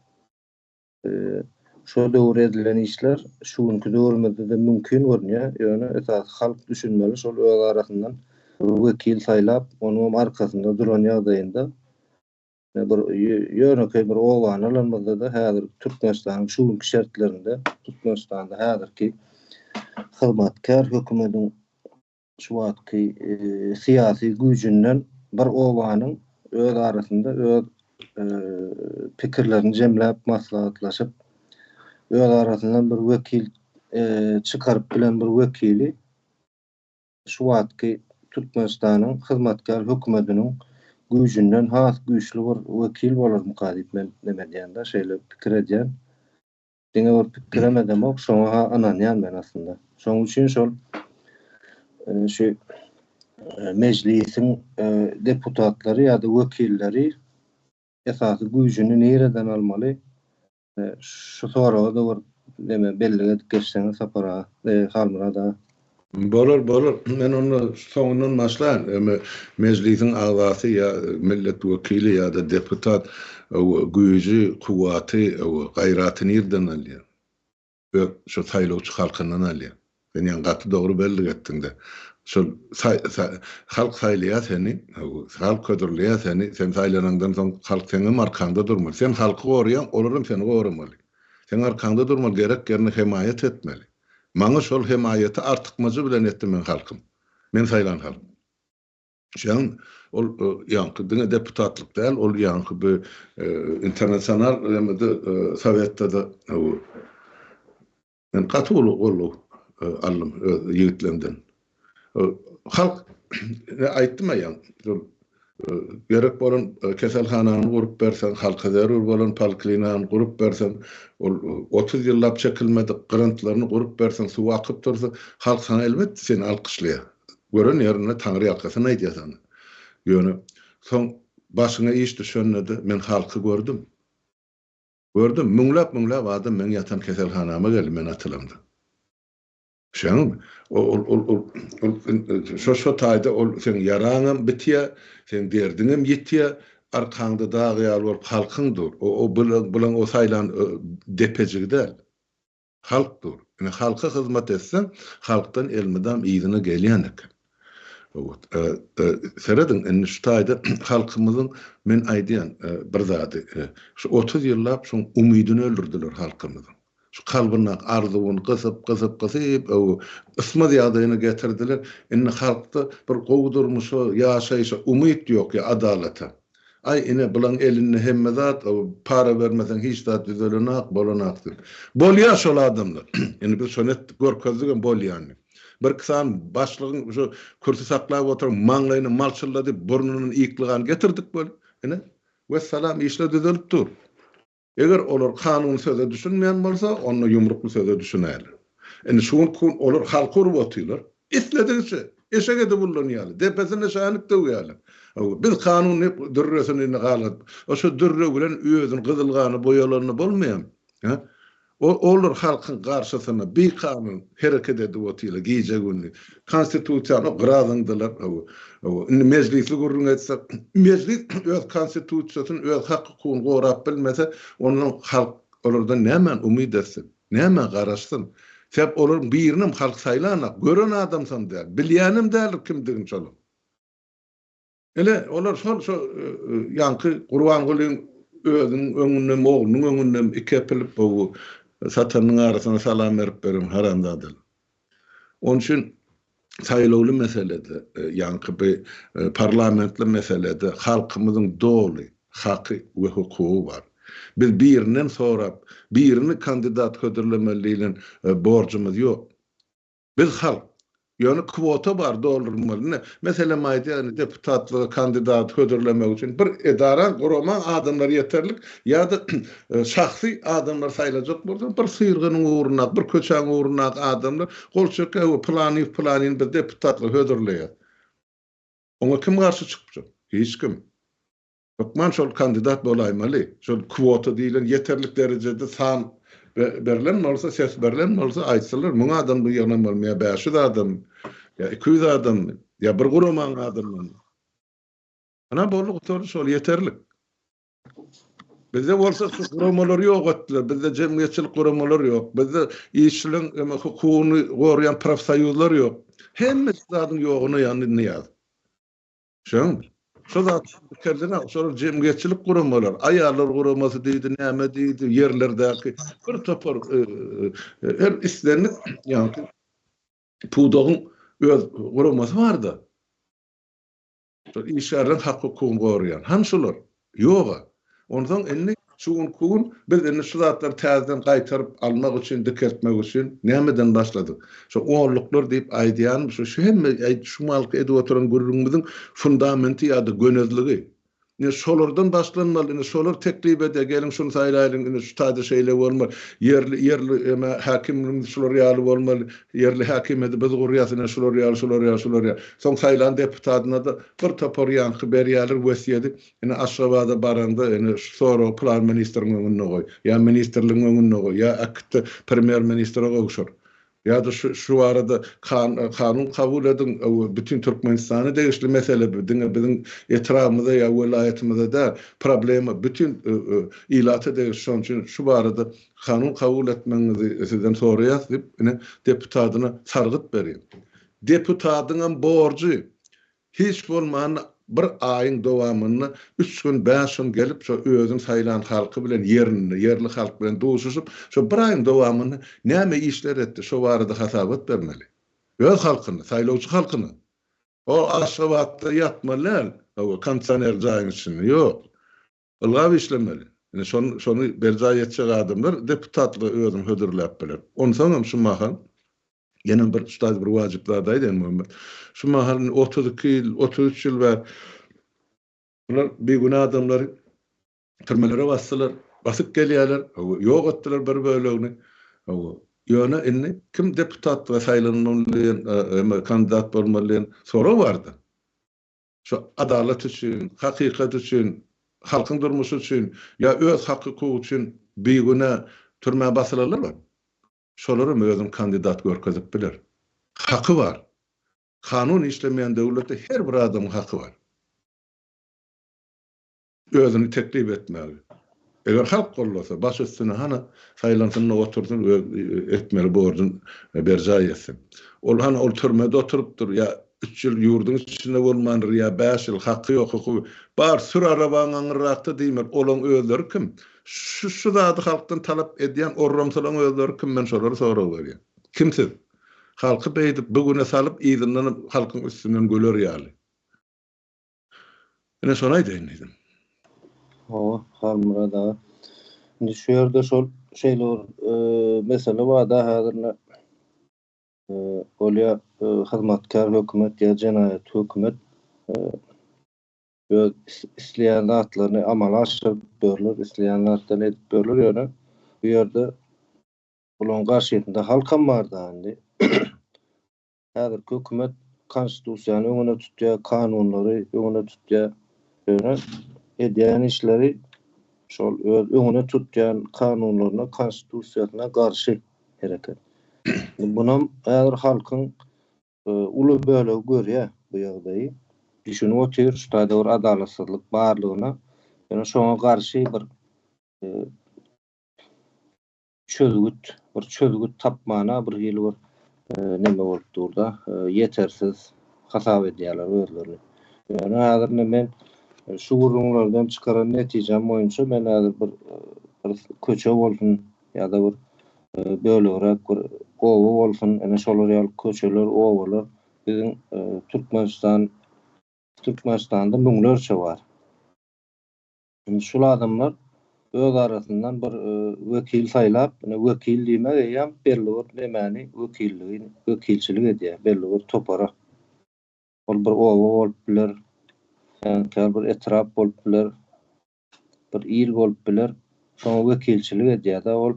Şo döwür edilen işler şu günki döwrümizde-de mümkin görünýär, ýöne esasy halk düşünmeli, şol öz arasyndan bir wekil saýlap, onuňam arkasynda duran ýagdaýynda, bir ýönekeý bir obany alanymyzda-da häzirki Türkmenistanyň şu günki şertlerinde, Türkmenistanda häzirki hyzmatkär hökümediň Şu wagtky syýasy güýjünden bir obanyň öz arasynda öz pikirlerini jemläp maslahatlaşyp öz arasyndan bir wekil çykaryp bilen bir wekili şu wagtky Türkmenistanyň hyzmatkär hökümetiniň güýjünden has güýçli bir wekil bolarmyka diýip men neme edýän-de şeýle pikir edýän. diňe bir pikirem edemok, şoňa-ha ynanýan men aslynda. Şoň üçin şol e, şu e, mejlisiň e, deputatlary ýa-da wekilleri esasy güýjüni nireden almaly? Şu soraga da bir neme bellik edip geçseňiz Sapar aga, Halmyrat aga. Bolar, bolar. Men onda soňundan başlaýyn. Emma Mejlisiň agzasy ýa millet wekili ýa-da deputat güýji, kuwwaty, gaýraty nirden alýar? Öz şu saýlawçy halkyndan alýar. Sen ýaňy gaty dogry bellik etdiň-de. Şol halk saýlaýar seni, halk hödürleýär seni. Sen saýlanaňdan soň halk seňem arkaňda durmaly. Sen halky goraýaň, olar hem seni goramaly. Seň arkaňda durmaly, gerek ýerinde hemaýat etmeli. Maňa şol hemaýaty artykmajy bilen etdi meň halkym. Men saýlan halk. Şeýan ol ýaňky diňe deputatlyk däl, ol ýaňky bi internasional nemede sowetde-de men gaty uly goldaw aldym öz ýigitlerimden. Halk aýtdym-a ýa, şol gerek bolan keselhanany gurup berseň, halka zerur bolan poliklinigany gurup berseň, ol otuz ýyllap çekilmedik gyryntlaryny gurup berseň, suw akyp dursa, halk saňa elbetde seni alkyşlaýar. Gören ýerinde taňryýalkasyn aýdýar saňa. Ýöne soň başyňa iş düşende-de men halky gördüm. Gördüm, müňläp-müňläp adam meň ýatan keselhanama geldi men atylamda. Şoň şo taýda ol seň ýaraňam bitýär, seň derdiňem ýitýär, arkaňda dag ýaly bolup halkyň dur. O bilen o saýlan depejigi däl. Halk dur. Ine halka hyzmat etseň, halkdan elmydam yzyna gelýän eken. Serediň, indi şu taýda halkymyzyň men aýdýan bir zady, şu otuz ýyllap şoň umydyny öldürdiler halkymyzyň. Şu kalbyndaky arzuwyny gysyp, gysyp, gysyp, öw, ysmaz ýagdaýyna getirdiler. Indi halkda bir gowy durmuşa, ýaşaýşa umyt ýok, ýa adalata. Aý, ine, bulaň elinde hemme zat, öw, para bermeseň hiç zat düzelenok, bolanok diýip. Bolýar şol adamlar. Indi biz şony etdik, görkezdik hem bolýanyny. Birki sany başlygyň şu kürsi saklap oturan maňlaýyna malçyllady, burnundan ýykly gan getirdik weli. Ine, wessalam, işler düzelip dur. Eger olar kanun söze düşünmeýän bolsa, onda ýumrukly söze düşünäýler. Indi şu gün olar halky urup otyrlar. Isledigiçe, eşek edip ullanýarlar. Depesine şänip döwýärler. Biz kanun diýip dürresini indi galgadyp, şo dürre bilen özüni gyzyl gana boýalanda bolmaýamy? Hä? Olar halkyň garşysyna bikanun hereket edip otyrlar gije-gündiz. Konstitusiýany gyrazyňdylar. Indi mejlisli gürrüň etse, mejlis öz konstitusiýasyny, öz hak-hukugyny gorap bilmese, onda halk olardan nämä umyt etsin? Nämä garaşsyn? Sebäp olaryň birinem halk saýlanak, gören adamsam däl, bilýänem däldir kimdigini şolaryň. Ine, olar şol şu ýaňky Gurbangulyň özüniň öňündem, oglunyň öňündem iki epilip gowy satanyň arasyna salam berip beren haramzadalar. Onuň üçin saýlawly meselede, ýaňky bi parlamentli meselede halkymyzyň doly haky we hukugy bar. Biz birinden sorap, birini kandidat hödürlemeli diýlen borjumyz ýok. Biz halk. Ýöne kwota bar doldurylmaly. Ine, meselem aýdýan, deputatlyga kandidat hödürlemek üçin bir edaraň, guramaň adamlary ýeterlik ýa-da şahsy adamlary saýlajak bolsaň, bir syrgynyň ugrundaky, bir köçäň ugrundaky adamlar gol çekýär, Hawa, pylanyny, pylanyny biz deputatlyga hödürleýäs. Oňa kim garşy çykypjak? Hiç kim. Hökman şol kandidat bolaýmaly. Şol kwota diýlen ýeterlik derejede san berlen bolsa, ses berlen bolsa, aýtsalar, müň adam bu ýygnan bolmaly, ýa bäş ýüz adam, ýa iki ýüz adam, ýa bir guramanyň adamlary. Ana, boldy, gutardy, şol ýeterlik. Bizde bolsa şu guramalary ýok etdiler, bizde jemgyýetçilik guramalary ýok, bizde işçiligiň eme hukugyny goraýan profsoýuzlar ýok. Hemme zadyň ýogyna ýandy Nyýazow. Şoň, şo zat pikirleniň, şolar jemgyýetçilik guramalary, aýallar guramasy diýdi, näme diýdi, ýerlerdäki bir topar her islendik, ýagny pudagyň öz guramasy bar-da. Şol işgärleriň hak-hukugyny goraýan, hany şolar. Ýog-a. Onsoň indi şu günki gün biz indi şu zatlary täzeden gaýtaryp almak üçin, dikeltmek üçin nämeden başladyk? Şu onluklar diýip aýdýanym şu, şu hemme aýt şu malky edip oturan gürrüňimiziň fundamenti ýa-da gönezligi. Ine, şolardan başlanmaly. Ine, şolar teklip ede, geliň şuny saýlaýlyň, ine, şu taýda şeýle bolmaly. Ýerli, ýerli eme häkimligimiz şular ýaly bolmaly. Ýerli häkimiýeti biz gurýas, ine, şular ýaly, şular ýaly, şular ýaly. Soň saýlan deputatyna-da Bir topar ýaňky berýärler wesýedi, ine Aşgabada baraňda ine şu soragy plan ministriň öňünde goý, ýa ministrligiň öňünde goý, ýa äkitde premýer ministre gowşur, ýa-da şu şu barada kan kanun kabul ediň, bu bütin Türkmenistana degişli mesele, bu diňe biziň etrabymyza ýa welaýatymyza däl, problema bütin ilata degişli, şonuň üçin şu barada kanun kabul etmegiňizi sizden soraýas diýip, ine deputadyna sargyt berýär. Deputatyňam borjy, hiç bolmanda bir aýyň dowamynda üç gün, bäş gün gelip, şo özüň saýlan halky bilen ýerinde, ýerli halk bilen duşuşyp, şo bir aýyň dowamynda näme işler etdi, şo barada hasabat bermeli. Öz halkyna, saýlawçy halkyna. O Aşgabatda ýatmaly däl, kondisioner jaýyň içinde, ýok. Ylgap işlemeli. Ine şony şony berjaý etjek adamlar deputatlyga özüni hödürläp biler. Onsaňam şu mahal ýene bir ustaz bir wajyp zat aýt Enmuhammet. Şu mahal indi otuz iki ýyl, otuz üç ýyl bäri bular bigünä adamlary türmelere basdylar, basyp gelýärler, hawa, ýok etdiler bir bölegini. Hawa, ýöne indi kim deputatlyga saýlanmaly diýen, e, e, kandidat bolmaly diýen sorag bar-da. Şu adalat üçin, hakykat üçin, halkyň durmuşy üçin ýa öz hak-hukugy üçin bigünä türmä basylanlar bar. Şolaram özüni kandidat görkezip biler. Haky bar. Kanun işlemeýän döwletde her bir adamyň haky bar. Özüni teklip etmeli. Eger halk goldasa, baş üstüne hany saýlansyn-da otursyn, öz etmeli borjun berjaý etsin. Ol hany ol türmede oturypdyr ýa üç ýyl ýurduň içinde bolmandyr ýa bäş ýyl, haky ýok, hukugy bar, sür arabaňy aňyrrakda diýmeli. Olaň özleri kim? Şu şu zady halkdan talap edýän orramsylaň özleri kim? Men şolary sorag berýän. Kim siz? Halky beýdip bu güne salyp yzyndanam halkyň üstünden güler ýaly. Ine şony aýdaýyn diýdim. Hawa, Halmyrat aga. Indi şu ýerde şol şeýle bir e, mesele barda häzir e, bolýar e, hyzmatkär hökümet ýa jenaýat hökümet e, öz isleýän zatlaryny amala aşyryp berler, isleýän zatlaryny edip berler ýöne bu ýerde bularyň garşysynda halkam barda indi. Häzirki hökümet konstitusiýany öňüne tutýar, kanunlary öňüne tutýar. Ýöne edýän işleri şol öz öňüne tutýan kanunlaryna, konstitusiýasyna garşy hereket. Bunam häzir halkyň uly bölegi görýär bu ýagdaýy. Düşünip otyr, şu taýda bir adalatsyzlyk barlygyna. Ýöne şoňa garşy bir çözgüt, bir çözgüt tapmana bir hili bir neme bolup durda, ýetersiz hasap edýärler özlerini. Ýöne häzir indi men şu gürrüňlerden çykaran netijem boýunça men häzir bir bir köçe bolsun ýa-da bir bölegräk bir oba bolsun, ine şolar ýaly köçeler, obalar biziň Türkmenistan Türkmenistanda müňlerçe bar. Indi şul adamlar öz arasyndan bir wekil saýlap, ine wekil diýmek eýýäm belli bir nemäni wekilligi wekilçilik edýär, belli bir topara. Ol bir oba bolup biler, käbir bir etrap bolup biler, bir il bolup biler, şoňa wekilçilik edýär-de ol.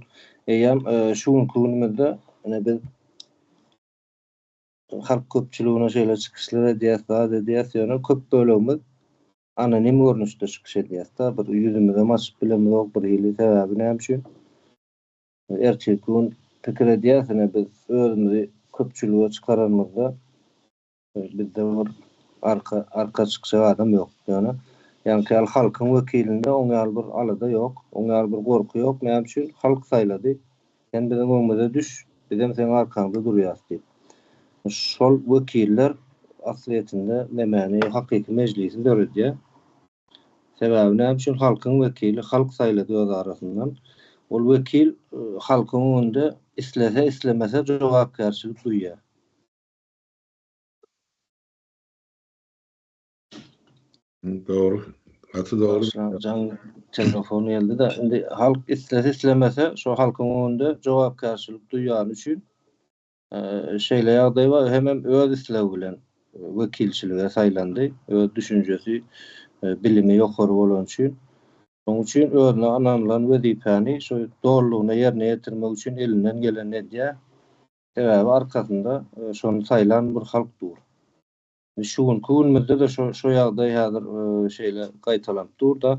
Eýýäm şu günki günümizde ine biz halk köpçüligine şeýle çykyşlar edýäs, zat edýäs, ýöne köp bölegimiz anonim görnüşde çykyş edýäsda bir ýüzümizem açyp bilemizok birhili sebäbi näme üçin ertirki gün pikir edýäs ine biz özümizi köpçülige çykaranymyzda bizde bir arka arka çykjak adam ýok ýöne ýaňky ýaly halkyň wekilinde oň ýaly bir alada ýok oň ýaly bir gorky ýok näme üçin halk saýlady Sen biziň öňümize düş, bizem seň arkaňda durýas diýip, şol wekiller aslyýetinde nemäni, hakyky mejlisi döredýär. Sebäbi näme üçin halkyň wekili, halk saýlady öz arasyndan. Ol wekil halkyň öňünde islese, islemese jogapkärçilik duýýar. Dogry. Gaty dogry. Jaň telefon geldi-de, indi halk islese islemese şu halkyň öňünde jogapkärçilik duýýany üçin şeýle ýagdaý bar, hemem öz islegi bilen wekilçilige saýlandy, öz düşünjesi, bilimi ýokary bolany üçin. Şonuň üçin özüne ynanylan wezipäni şu dolulygyna ýerine ýetirmek üçin elinden gelenini edýär. Sebäbi arkasynda şony saýlan bir halk dur. Şu günki günümizde-de şo-şo ýagdaý häzir şeýle gaýtalanyp dur-da,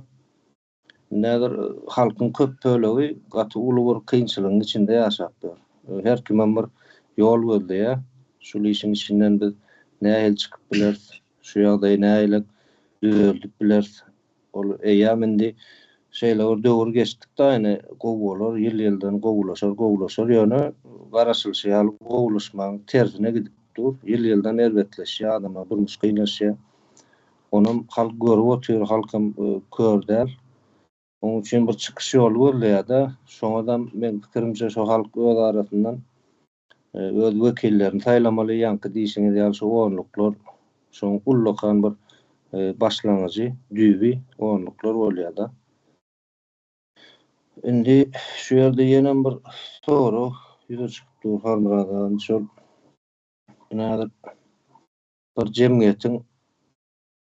indi häzir halkyň köp bölegi gaty uly bir kynçylygyň içinde ýaşap ýör. Her kimem bir ýol gözleýär. Şul işiň içinden biz nähili çykyp bileris, şu ýagdaýy nähili düzeldip bileris Ol eýýam indi şeýle bir döwür geçdik-de, ýöne gowy bolar, ýyl-ýyldan gowulaşar, gowulaşar, ýöne garaşylyşy ýaly gowulaşmagyň tersine gidip dur, ýyl-ýyldan erbetleşýär, adamlaryň durmuşy kynlaşýar. Onam halk görüp otyr, halkam kör däl. Onuň üçin bir çykyş ýoly gözleýär-de, şoňadam meň pikirimçe şo halk öz arasyndan öz wekillerini saýlamaly, ýaňky diýşiňiz ýaly şu onluklar şoň ullakan bir başlangyjy, düýbi onluklar bolýar-da. Indi şu ýerde ýenem bir sorag ýüze çykyp dur Halmyrat aga, şol ine häzir bir jemgyýetiň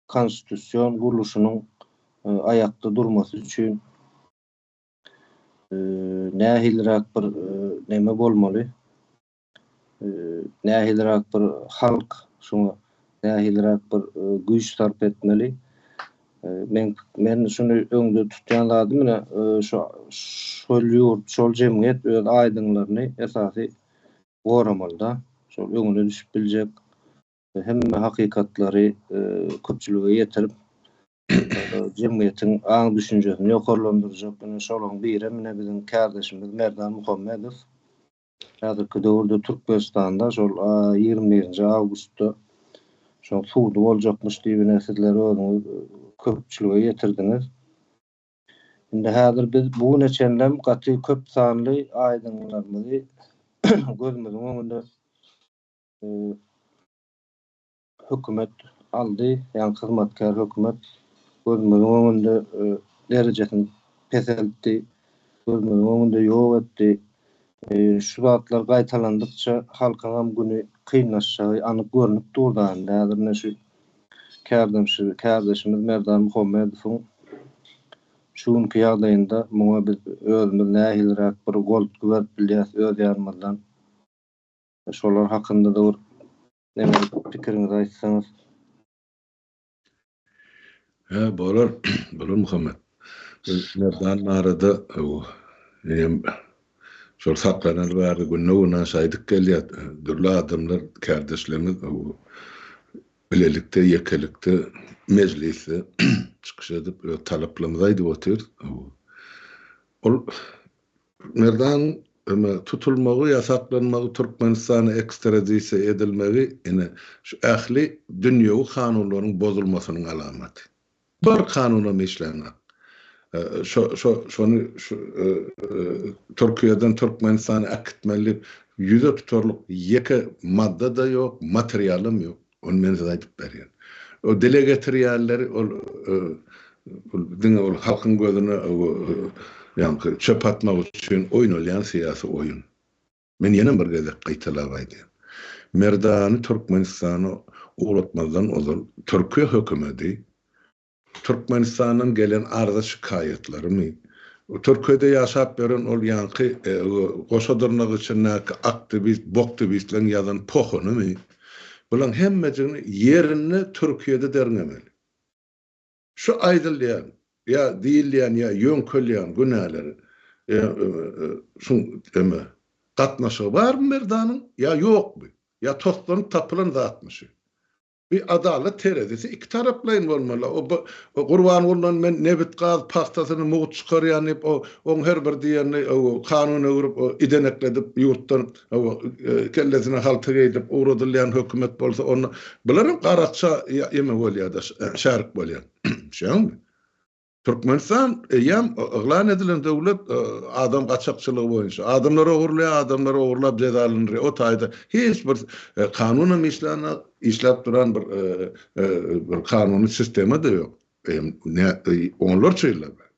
konstitusion gurluşynyň aýakda durmasy üçin, nähiliräk bir näme bolmaly, nähiliräk bir halk şuňa nähiliräk bir güýç sarp etmeli. Men men şuny öňde tutýan zadym ine şu şol ýurt, şol jemgyýet öz aýdyňlaryny esasy goramaly-da. Şol öňüne düşüp biljek, hemme hakykatlary köpçülige ýetirip, jemgyýetiň aň-düşünjesini ýokarlandyrjak ine şolaryň birem ine biziň kärdeşimiz Merdan Muhammedow. Häzirki döwürde Türkmenistanda şol ýigrimi birinji awgustda şoň sudy boljakmyş diýip ine sizler özüňiz köpçülige ýetirdiňiz. Indi häzir biz bu güne çenlem gaty köp sanly aýdymlarymyzy gözümiziň öňünde hökümet aldy, ýagny hyzmatkär hökümet gözümiziň öňünde derejesini peseltdi, gözümiziň öňünde ýok etdi. Şu zatlar gaýtalandykça halkyňam güni kynlaşjagy anyk görnüp dur da indi. Häzir ine şu kärdeşimiz Merdan Muhammedowyň şu günki ýagdaýynda muňa biz özümiz nähiliräk bir goltgy berip bilýäs öz ýanymyzdan. Şolar hakynda-da bir näme pikiriňizi aýtsaňyz. Hä, bolar, bolar Muhammet. Merdan barada menem şol saklanaly bäri günde-güne şaýdyk gelýär. Dürli adamlar, kärdeşlerimiz bilelikde, ýekelikde mejlisde çykyş edip, öz talaplarymyzy aýdyp otyr. Ol Merdan Ömer tutulmagy, ýasaklanmagy, Türkmenistana ekstradisiýa edilmegi ine, şu ähli dünýewi kanunlaryň bozulmasynyň alamaty. Bir kanunam işlänok. Şo, şo, şony şu Türkiýeden Türkmenistana äkitmeli diýip ýüze tutarlyk ýeke madda-da ýok, materialam ýok. Ony men size aýdyp berýän. Ol dile getirýänleri ol diňe ol halkyň gözüne ýaňky çöp atmak üçin oýnalýan syýasy oýun. Men ýene bir gezek gaýtalap aýdýan. Merdany Türkmenistana ugratmazdan ozal Türkiýe hökümedi Türkmenistandan gelen arza şikaýatlarymy Türkiýede ýaşap ýören ol ýaňky goşa dyrnak içindäki aktiwist boktibistleň ýazan pohunymy bulaň hemmejigini ýerinde Türkiýede derňemeli. Şu aýdylýan ýa diýilýän ýa ýöňkelýän günäleri şuň eme gatnaşygy barmy Merdanyň ýa ýokmy ýa toslanyp tapylan zatmy şu Bir adalat terezisi iki taraplaýyn bolmaly. O bir Gurbangulydan men nebit, gaz, pagtasyny, mugt çykarýan diýip, o oň her bir diýenini kanun öwrüp, idenekledip, ýurtdan kellesine halta geýdip ugradylýan hökümet bolsa, onda bular hem garakça ýeme bolýar-da, şärik bolýar. Düşýäňizmi? Türkmenistan eýýäm yglan edilen döwlet adam gaçakçylygy boýunça. Adamlar ogurlaýar, adamlar ogurlap jezalandyrýar. O taýda hiç bir kanunam işlänok, işläp duran bir bir kanuny sistema-da ýok. Onlarça ýyllap bäri.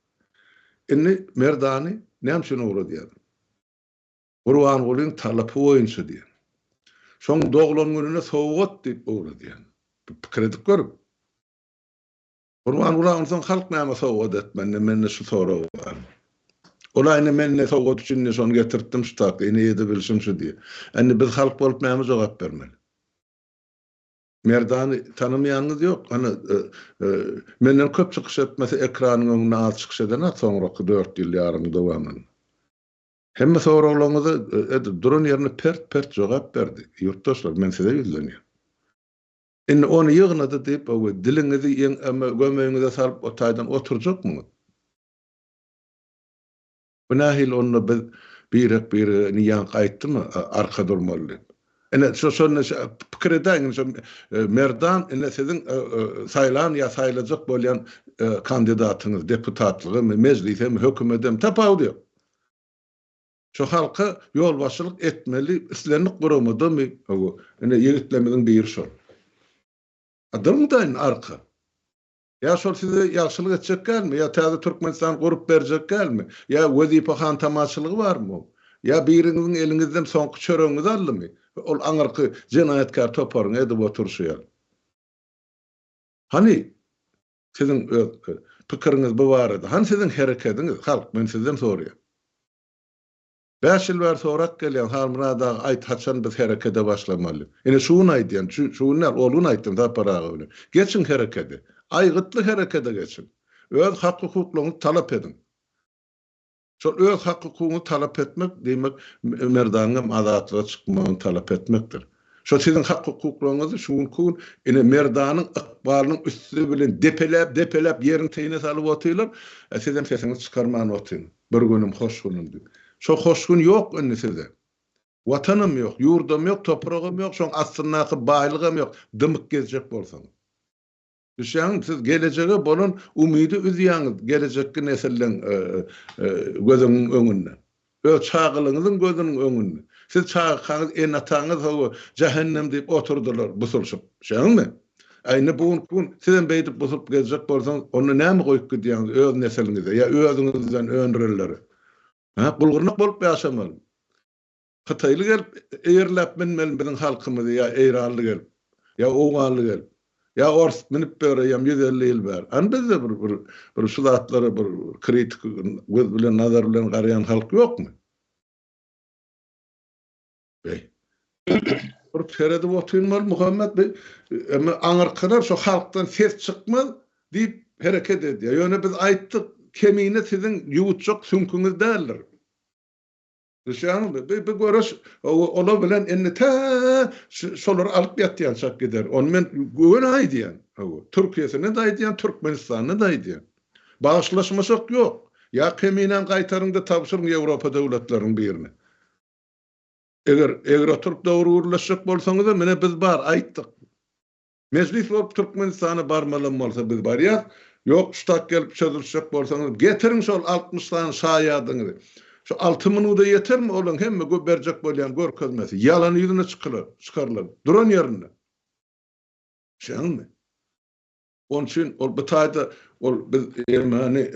Indi Merdany näme üçin ogradýar? Gurbangulyň talapy boýunça diýen. Şoň doglan gününe sowgat diýip ogradýar. Pikir edip görüň. Gurbanguly onsoň halk näme sowgat etmände mende şu sorag bar. Ol-a ine men ine sowgat üçin ine şony getirtdim şu taky ine ýedi bilşim şu diýip. Indi biz halk bolup näme jogap bermeli? Merdany tanamaýanyňyz ýok. Hany menden köp çykyş etmese ekranyň öňünde az çykyş eden-a soňraky dört ýyl ýarymyň dowamynda. Hemme soraglaryňyza edil duran ýerinde pert pert jogap berdi. Ýurtdaşlar men size ýüzlenýän. Indi ony ýygnady diýip, owe, diliňizi ýeňňeme gömeýiňize salyp otaýdan oturjakmyňyz? Bu nähili onda biz birek-birege indi ýaňky aýtdymy, arka durmaly diýip. Ine, şo şonda şa pikir edäýiň, şo Merdan indi siziň saýlan ýa saýlajak bolýan kandidatyňyz, deputatlygamy, mejlisemi, hökümetemi, tapawudy ýok. Şu halka ýolbaşçylyk etmeli islendik guramadamy? Hawa, ine ýigitlerimiziň biri şol. A durmadaýyn arka. Ýa şol size ýagşylyk etjek dälmi? Ýa täze Türkmenistany gurup berjek dälmi? Ýa wezipe hantamaçylygy barmy oň? Ýa biriňiziň eliňizden soňky çöregiňizi aldymy? Ol aňyrky jenaýatkär toparyň edip oturyşy ýaly. Hany, Siziň öz pikiriňiz bu barada. Hany siziň herekediňiz, halk, men sizden soraýan. Bäş ýyl bäri sorap gelýän, Halmyrat aga aýt haçan biz herekede başlamaly. Ine şu gün aýdýan, şu şu gün däl, ol gün aýtdym Sapar aga bilen. Geçiň herekede. Aýgytly herekede geçiň. Öz hak-hukuklaryňyzy talap ediň. Şol öz hak-hukugyňy talap etmek, diýmek, merdanygam azatlyga çykmagyny talap etmekdir. Şo siziň hak-hukuklaryňyzy şu günki gün ine merdanyň ykbalynyň üsti bilen depeläp, depeläp ýeriň teýine salyp otyrlar, a sizem sesiňizi çykarman otyň, bir günüm, hoş günüm diýip. Şo hoş gün ýok indi sizde. Watanam ýok, ýurdam ýok, topragam ýok, şoň astyndaky baýlygam ýok, dymyk gezjek bolsaňyz. Düşýäňizmi? Siz gelejege bolan umydy üzýäňiz, gelejekki nesilleň gözüniň öňünde. Öz çagalygyňyzyň gözüniň öňünde. Siz çagakaňyz, ene-ataňyz hawa, jähennem diýip oturdylar busulşyp. Düşýäňizmi? A indi bu günki gün sizem beýdip busulyp gezjek bolsaňyz, onda näme goýup gidýäňiz öz nesiliňize ýa özüňizden öndürenlere? Hä, gul-gyrnak bolup ýaşamalymy? Hytaýly gelip eýerläp münmeli biziň halkymyzy ýa eýranly gelip, ýa owganly gelip, ýa ors münüp biler eýýäm ýüz elli ýyl bäri. Any bizde bir bir bir şu zatlara bir kritik göz bilen nazar bilen garaýan halk ýokmy? Beý. Bir seredip otyrmaly Muhammet bi emma aňyrkalar şu halkdan ses çykmaz diýip hereket edýär. Ýöne biz aýtdyk, Kemine siziň ýuwutjak süňküňiz däldir. Düşýäňizmi? Bi bi göreş o olar bilen indi tä şu şolary alyp ýatýan çak gider. Ony men göni aýdýan. Hawa. Türkiýesini-de aýdýan, Türkmenistanyny-da aýdýan. Bagyşlaşmasak ýok. Ýa keminäň gaýtaryň-da tabşyryň Ýewropa döwletleriniň birine. Eger eger oturyp dogry gürleşjek bolsaňyz-a, menä biz bar, aýtdyk. Mejlis bolup Türkmenistana barmalam bolsa biz barýas, ýok ştat gelip çözülişjek bolsaňyz getiriň şol altmyş sany şaýadyňyzy. Şu alty minuda ýetermi olaň hemme gö berjek bolýan görkezmesi. Ýalany ýüzüne çykylar, çykarylar. Duran ýerinde. Şeňňi. Oň üçin ol bu taýda ol biz ermeni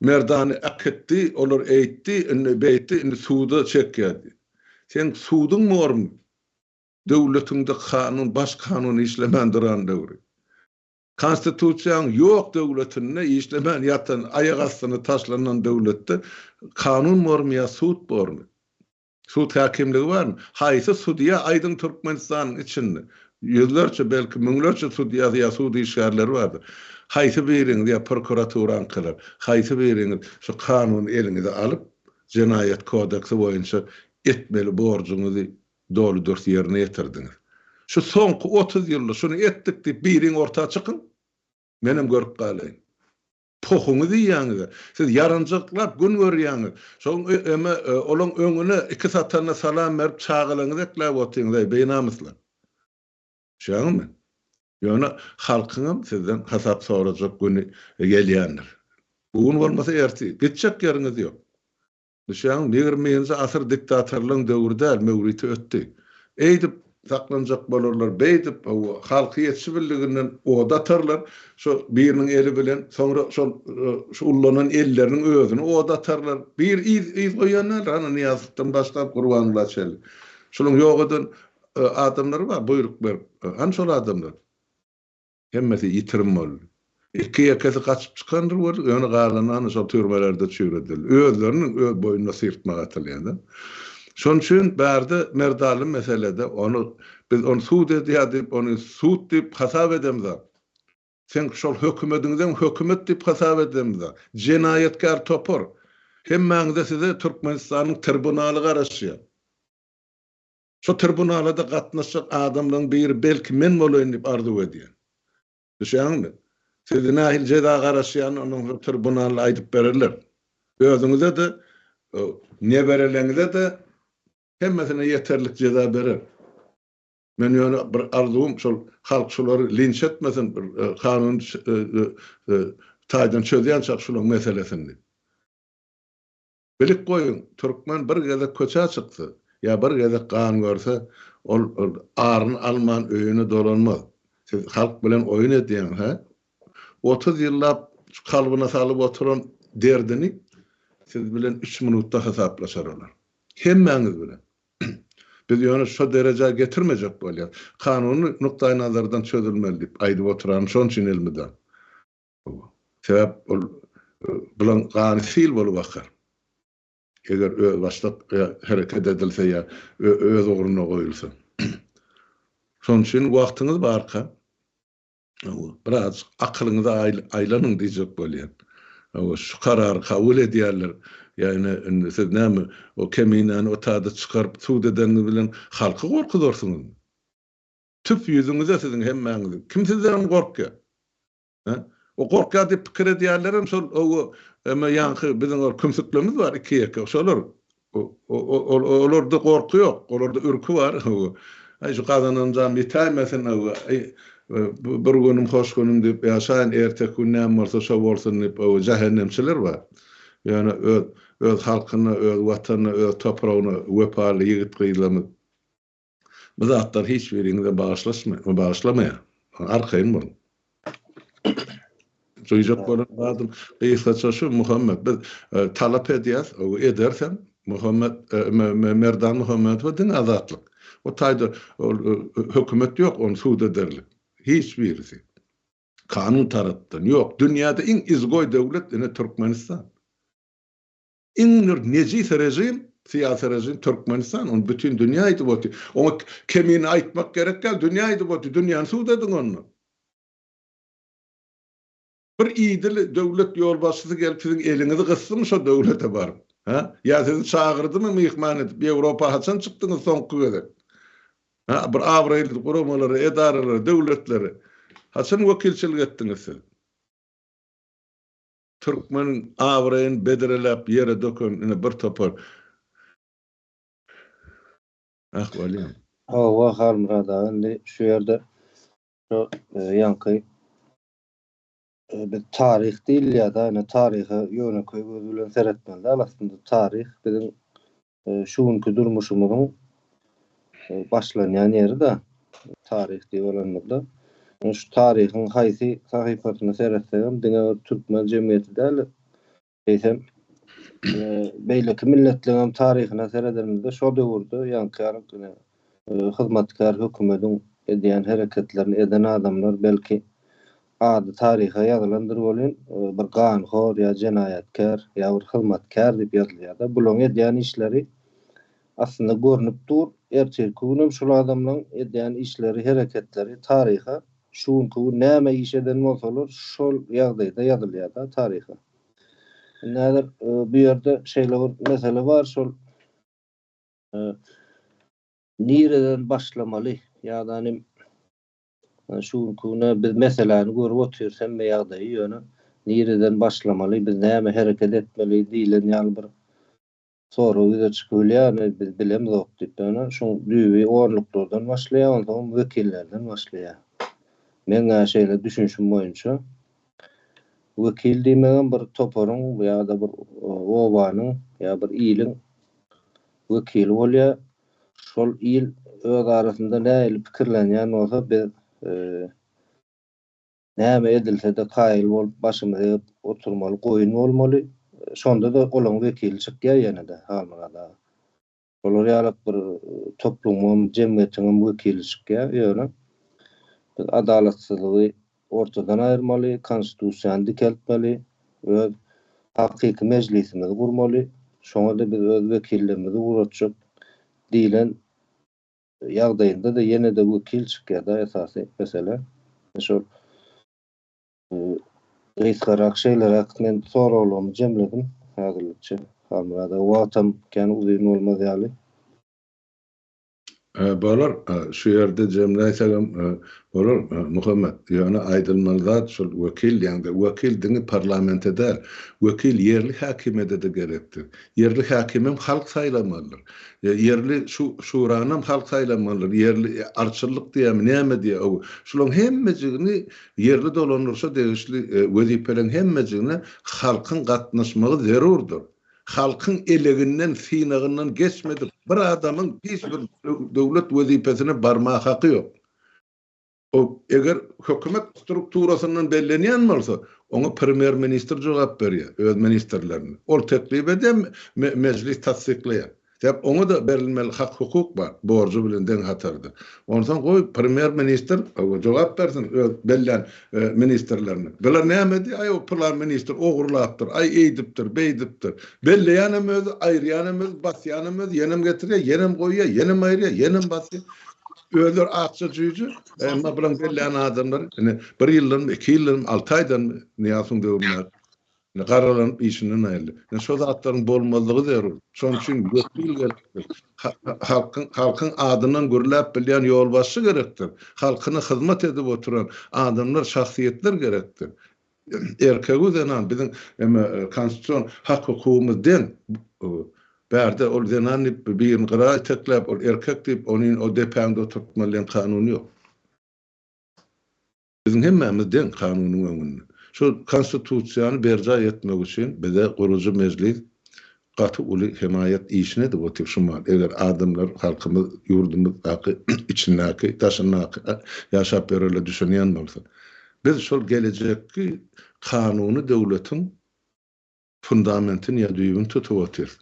merdany äkitdi, olar eýtdi, indi beýtdi, indi suda çekýär diýip. Seň suduň bormy? Döwletiňde kanun, baş kanun işlemän duran döwri. Konstitusiýaň ýok döwletinde, işlemän ýatan, aýak astyna taşlanan döwletde kanun bormy ýa sud bormy? Sud häkimligi barmy? Haýsy sudýa aýdyň Türkmenistanyň içinde? Ýüzlerçe, belki, müňlerçe sudýasy ýa sud işgärleri bardyr. Haýsy biriňiz ýa prokuraturaňkylar, haýsy biriňiz şu kanuny eliňize alyp, jenaýat kodeksi boýunça etmeli borjuňyzy Doly dürs ýerine ýetirdiňiz. Şu soňky otuz ýylda şuny etdik diýip biriň orta çykyň. Menem görüp galaýyn. Pohuňyzy iýýäňiz-ä. Siz ýaranjaklap gün görýäňiz. Şoň öme olaň öňüne iki satanda salam berip çagalaňyzy ekläp otyňyz-aý binamyslar. Düşýäňizmi? Ýöne halkyňam sizden hasap sorajak güni gelýändir. Bu gün bolmasa ertir. Gitjek ýeriňiz ýok. Düşäň, ýigriminji asyr diktatorlaryň döwri däl, möwriti ötdi. Eýdip saklanjak bolarlar, beýdip, hawa, halky ýetişi bildiginden oda atarlar, şo biriniň eli bilen, soňra şol şu ullanan elleriniň özüni oda atarlar. Bir yz, yz goýan däldir, hany Nyýazowydan başlap Gurbanguly çenli. Şunuň ýok eden adamlary bar, buýruk berip. Hany şol adamlar? Hemmesi ýitirim boldy. Iki-ýekesi gaçyp çykandyr boldy, ýöne galanlary şol türmelerde çüýredildi. Özlerini öz boýnuna syrtmaga atylýarlar. Şonuň üçin bärde Merdaly meselede ony biz ony sud edýär diýip, ony sud diýip hasap edemizok. Sen şol hökümediňizem hökümet diýip hasap edemizok. Jenaýatkär topar. Hemmäňize size Türkmenistanyň tribunaly garaşýar. Şu tribunala-da gatnaşjak adamlaryň biri belki men bolaýyn diýip arzuw edýän. Düşýäňizmi? Sizi nähili jeza garaşýany ondan soň tribunalda aýdyp bererler. Özüňize-de, nebereleňize-de hemmesine ýeterlik jeza berer. Men ýöne bir arzuwym şol halk şulary linç etmesin, bir kanun taýdan çözýänçak şulaň meselesini diýip. Bilip goýuň, türkmen bir gezek köçä çyksa, ýa bir gezek gan görse, ol aryny alman öýüne dolanmaz. Siz halk bilen oýun edýäňiz, hä? Otuz ýyllap kalbyna salyp oturan derdini siz bilen üç minutda hasaplaşar olar. Hemmäňiz bilen. Biz ýöne şo derejä getirmejek bolýarys. Kanuny nukdaýnazardan çözülmeli diýip aýdyp oturanyň şonçun elmydam. Sebäp ol bulan gany sil bolup akar. Eger özbaşdak hereket edilse ýa öz ugruna goýulsa. Şonuň üçin wagtyňyz barka birazjyk akylyňyzy aýlanyň diýjek bolýan. Şu karary kabul edýärler. Ýagny indi siz näme o keminäni o taýda çykaryp sud edeniňiz bilen halky gorkuzarsyňyzmy? Tüf ýüzüňize siziň hemmäňiziň. Kim sizdenem gorkýar? He? O gorkýar diýip pikir edýärlerem şol owo eme ýaňky biziň ol kümsüklerimiz bar iki ýeke şolar. Olarda gorky ýok, olarda ürki bar. Aý şu gazananjam ýitäýmesin owo. Aý bir günüm hoş günüm diýip ýaşaýyn, erteki gün näme bolsa şo bolsun diýip owo jähennemçiler bar. Ýöne öz öz halkyna, öz watanyna, öz topragyna wepaly ýigit-gyzlarymyz Bu zatlar hiç biriňize bagyşlaşmaýar, bagyşlamaýar. Arkaýyn boluň. Duýjak bolan zadym, gysgaça şu Muhammet, biz e, talap edýäs, ederis hem. Muhammet, e, Merdan Muhammedowa diňe azatlyk. O taýda ol e, hökümet ýok, ony sud ederlik. Hiç birisi. Kanun tarapdan ýok. Dünýäde iň izgoý döwlet ine Türkmenistan. Iň bir nejis režim, syýasy režim Türkmenistan, ony bütin dünýä aýdyp otyr. Oňa kemine aýtmak gerek däl, dünýä aýdyp otyr, dünýäni suwdadyň onda. Bir idil döwlet ýolbaşçysy gelip siziň eliňizi gysdymy şo döwlete baryp? Hä? Ýa sizi çagyrdymy myhman edip? Ýewropa haçan çykdyňyz soňky gezek? Hä? Bir abraýly guramalara, edaralara, döwletlere haçan wekilçilik etdiňiz siz? Türkmeniň abraýyn bedreläp ýere döken ine bir topar Ahwalyň. Hawa Halmyrat aga indi şu ýerde şu ýaňky biz taryh diýilýär-de ine taryha ýönekeý göz bilen seretmeli däl aslynda taryh biziň şu günki durmuşymyzyň başlanýan ýeri-de taryh diýip alanymyzda, şu taryhyň haýsy sahypasyna seretsegem diňe bir türkmen jemgyýeti däl-de, eýsem, beýleki milletleriňem taryhyna seredenimizde şo döwürde ýaňky hyzmatkär hökümediň edýän hereketlerini eden adamlar belki Ady taryha ýazylandyr welin, bir ganhor ýa jenaýatkär ýa bir hyzmatkär diýip ýazylýar-da. Bularyň edýän işleri aslynda görnüp dur, ertirki gün hem şul adamlaryň edýän işleri, hereketleri taryha, şu günki gün näme iş eden bolsalar, şol ýagdaýda ýazylýar-da taryha. Indi häzir bu ýerde şeýle bir mesele bar, şol nireden başlamaly ýa-da nim Şu günki güne biz meseläni görüp otyrys hemme ýagdaýy, ýöne nireden başlamaly, biz näme hereket etmeli diýlen ýaly bir sorag ýüze çykybilýär, biz bilemzok diýip. Ýöne şuň düýbi orluklardan başlaýar, onsoňam wekillerden başlaýar. Meň-ä şeýle düşünişim boýunça, wekil diýmegem bir toparyň ýa-da bir obanyň ýa bir iliň wekili bolýar. Şol il öz arasynda nähili pikirlenýän bolsa, biz näme edilse-de kaýyl bolup, başymyzy egip oturmaly, goýun bolmaly. Şonda-da olaň wekili çykýar ýene-de, Halmyrat aga. Şolar ýalak bir toplumyň, jemgyýetiňem wekili çykýar. Ýöne biz adalatsyzlygy ortadan aýyrmaly, Konstitusiýany dikeltmeli, öz hakyky mejlisimizi gurmaly, şoňa-da biz öz wekilligimizi ugratjak diýlen ýagdaýynda-da ýene-de wekil çykýar-da esasy mesele. Şol gysgarak şeýleräk men soraglarymy jemledim häzirlikçe. Halmyrat aga wagtam kän uzyn bolmaz ýaly. Bolar, şu ýerde jemläýsegem bolar, Muhammet. Ýöne aýdylmaly zat şol wekil diýende, wekil diňe parlamente däl, wekil ýerli häkimiýede-de gerekdir. Ýerli häkimem halk saýlamalydyr. Ýerli şu şuranam halk saýlamalydyr. Ýerli arçyllyk diýýärmi, näme diýýär, şularyň hemmejigini ýerli dolandyryşa degişli wezipeleriň hemmejigine halkyň gatnaşmagy zerurdyr. Halkyň eleginden, synagyndan geçmedik bir adamyň hiç bir döwlet wezipesine barmaga haky ýok. O, eger hökümet strukturasyndan bellenýän bolsa, oňa premýer-ministr jogap berýär, öz ministrlerini. Ol teklip edýär, Mejlis tassyklaýar. Sebäp oňa-da berilmeli hak-hukuk bar, borjy bilen deň hatarda. Onsoň goý, premýer-ministr jogap bersin öz bellän ministrlerine. Bular nämedi, aý, o pylan ministr ogurlapdyr, aý, eýdipdir, beýdipdir. Belleýänem özi, aýyrýanem özi, basýanem özi, ýenem getirýär, ýenem goýýar, ýenem aýyrýar, ýenem basýar. Özleri akja jüýje, emma bularyň bellän adamlary, ine, bir ýyldanmy, iki ýyldanmy, alty aýdanmy Nyýazowyň döwründäki. Ine, garralanyp işinden aýryldy. Ine, şo zatlaryň bolmazlygy zerur. Şonuň üçin wekil gerekdir. Halkyň, halkyň adyndan gürläp bilýän ýolbaşçy gerekdir. Halkyna hyzmat edip oturan adamlar, şahsyýetler gerekdir. Erkeg-u zenan biziň eme konstitusion hak-hukugymyz deň. Bärde ol zenan diýip birini gyra itekläp, ol erkek diýip, ony o depäňde oturtmaly diýen kanun ýok. Biziň hemmämiz deň kanunyň öňünde. Şu Konstitusiýany berjaý etmek üçin bize gurujy Mejlis gaty uly hemaýat işini edip otyr şu mahaly. Eger adamlar, halkymyz, ýurdumyzdaky, içindäki, daşyndaky ýaşap ýörerler düşünýän bolsa. Biz şol gelejekki kanuny döwletiň fundamentini ýa düýbüni tutup otyrys.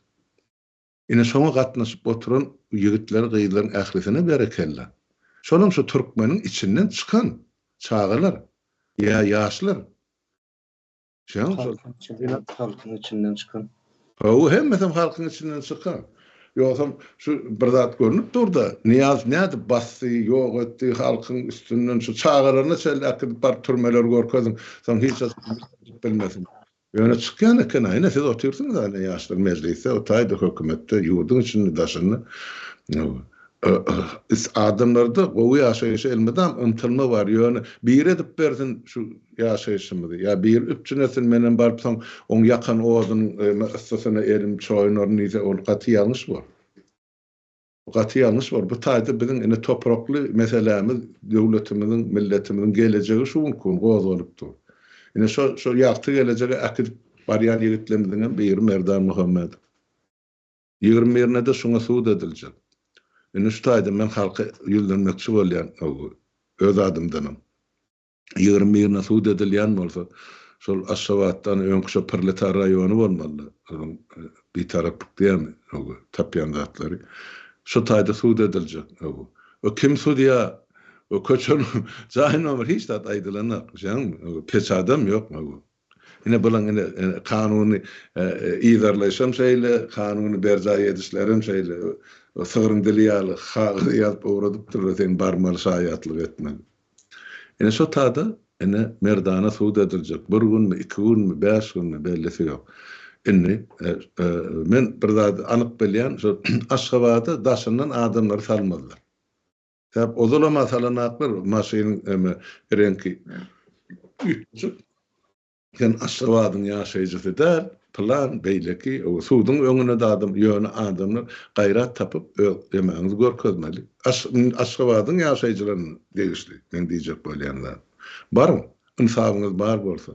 Ine şoňa gatnaşyp oturan ýigitler gyzlaryň ählisine berekella. Şolam şu türkmeniň içinden çykan çagalar ýa ýaşlar. Şoňam şol. Halkyň içinden çykan. Hawa hemmesem halkyň içinden çykan. Ýogsam şu bir zat görnüp durda Nyýaz nädip basdy, ýok etdi halkyň üstünden şu çagalaryna çenli äkidip baryp türmeleri görkeziň soň hiç bilmesin. Ýöne çykýan eken-a, ine siz otyrsyňyz-a ine ýaşlar mejlisde, o taýda hökümetde, ýurduň içinde, daşynda. Is adamlarda gowy ýaşaýşa elmydam ymtylma bar, ýöne biri edip bersin şu ýaşaýşymyzy, ýa biri üpjün etsin, menem baryp soň oň ýakan odunyň yssysyna elim çoýunaryn diýse, ol gaty ýalňyş bolup. Gaty ýalňyş bor. Bu taýda biziň ine toprakly meselämiz döwletimiziň, milletimiziň gelejegi şu günki gün gozgalyp dur. Ine şo şo ýagty gelejege äkidip barýan ýigitlerimiziň hem biri Merdan Muhammedow. Ýigrimi birine-de şuňa sud ediljek. Indi şu taýdan men halka ýüzlenmekçi bolýan, öz adymdanam. Ýegirim birine sud edilýän bolsa, şol Aşgabatdan öňki şo Prletar raýony bolmalydy. Onuň Bitaraplyk diýýärmi, ög, tapýan zatlary. Şo taýda sud ediljek, ög. Ög, kim sudýa? Ög, köçe, jaý nomeri hiç zat aýdylanok, düşýäňmi? Ög, peçadam ýok, ög. Ine bulan ine kanuny yzarlaýşam şeýle, kanuny berjaý edişlerem şeýle. Sygryň dili ýaly kagyza ýazyp owredypdyrlar seň barmaly şaýatlyk etmeli. Ine şo tada ine merdana sud ediljek. Bir günmi, iki günmi, bäş günmi bellisi ýok. Indi men bir zady anyk bilýän şo Aşgabada daşyndan adamlary salmazlar. Sebäp ozalam asalanaklar maşynyň eme reňki üýtgeşik. Sen Aşgabadyň ýaşaýjysy däl, pylan, beýleki, ow suduň öňünde adam, ýöne adamlar gaýrat tapyp öz emäňizi görkezmeli. Aş, Aşgabadyň ýaşaýjylaryna degişli meň diýjek bolýan zadym. Baryň, Ynsabyňyz bar bolsa,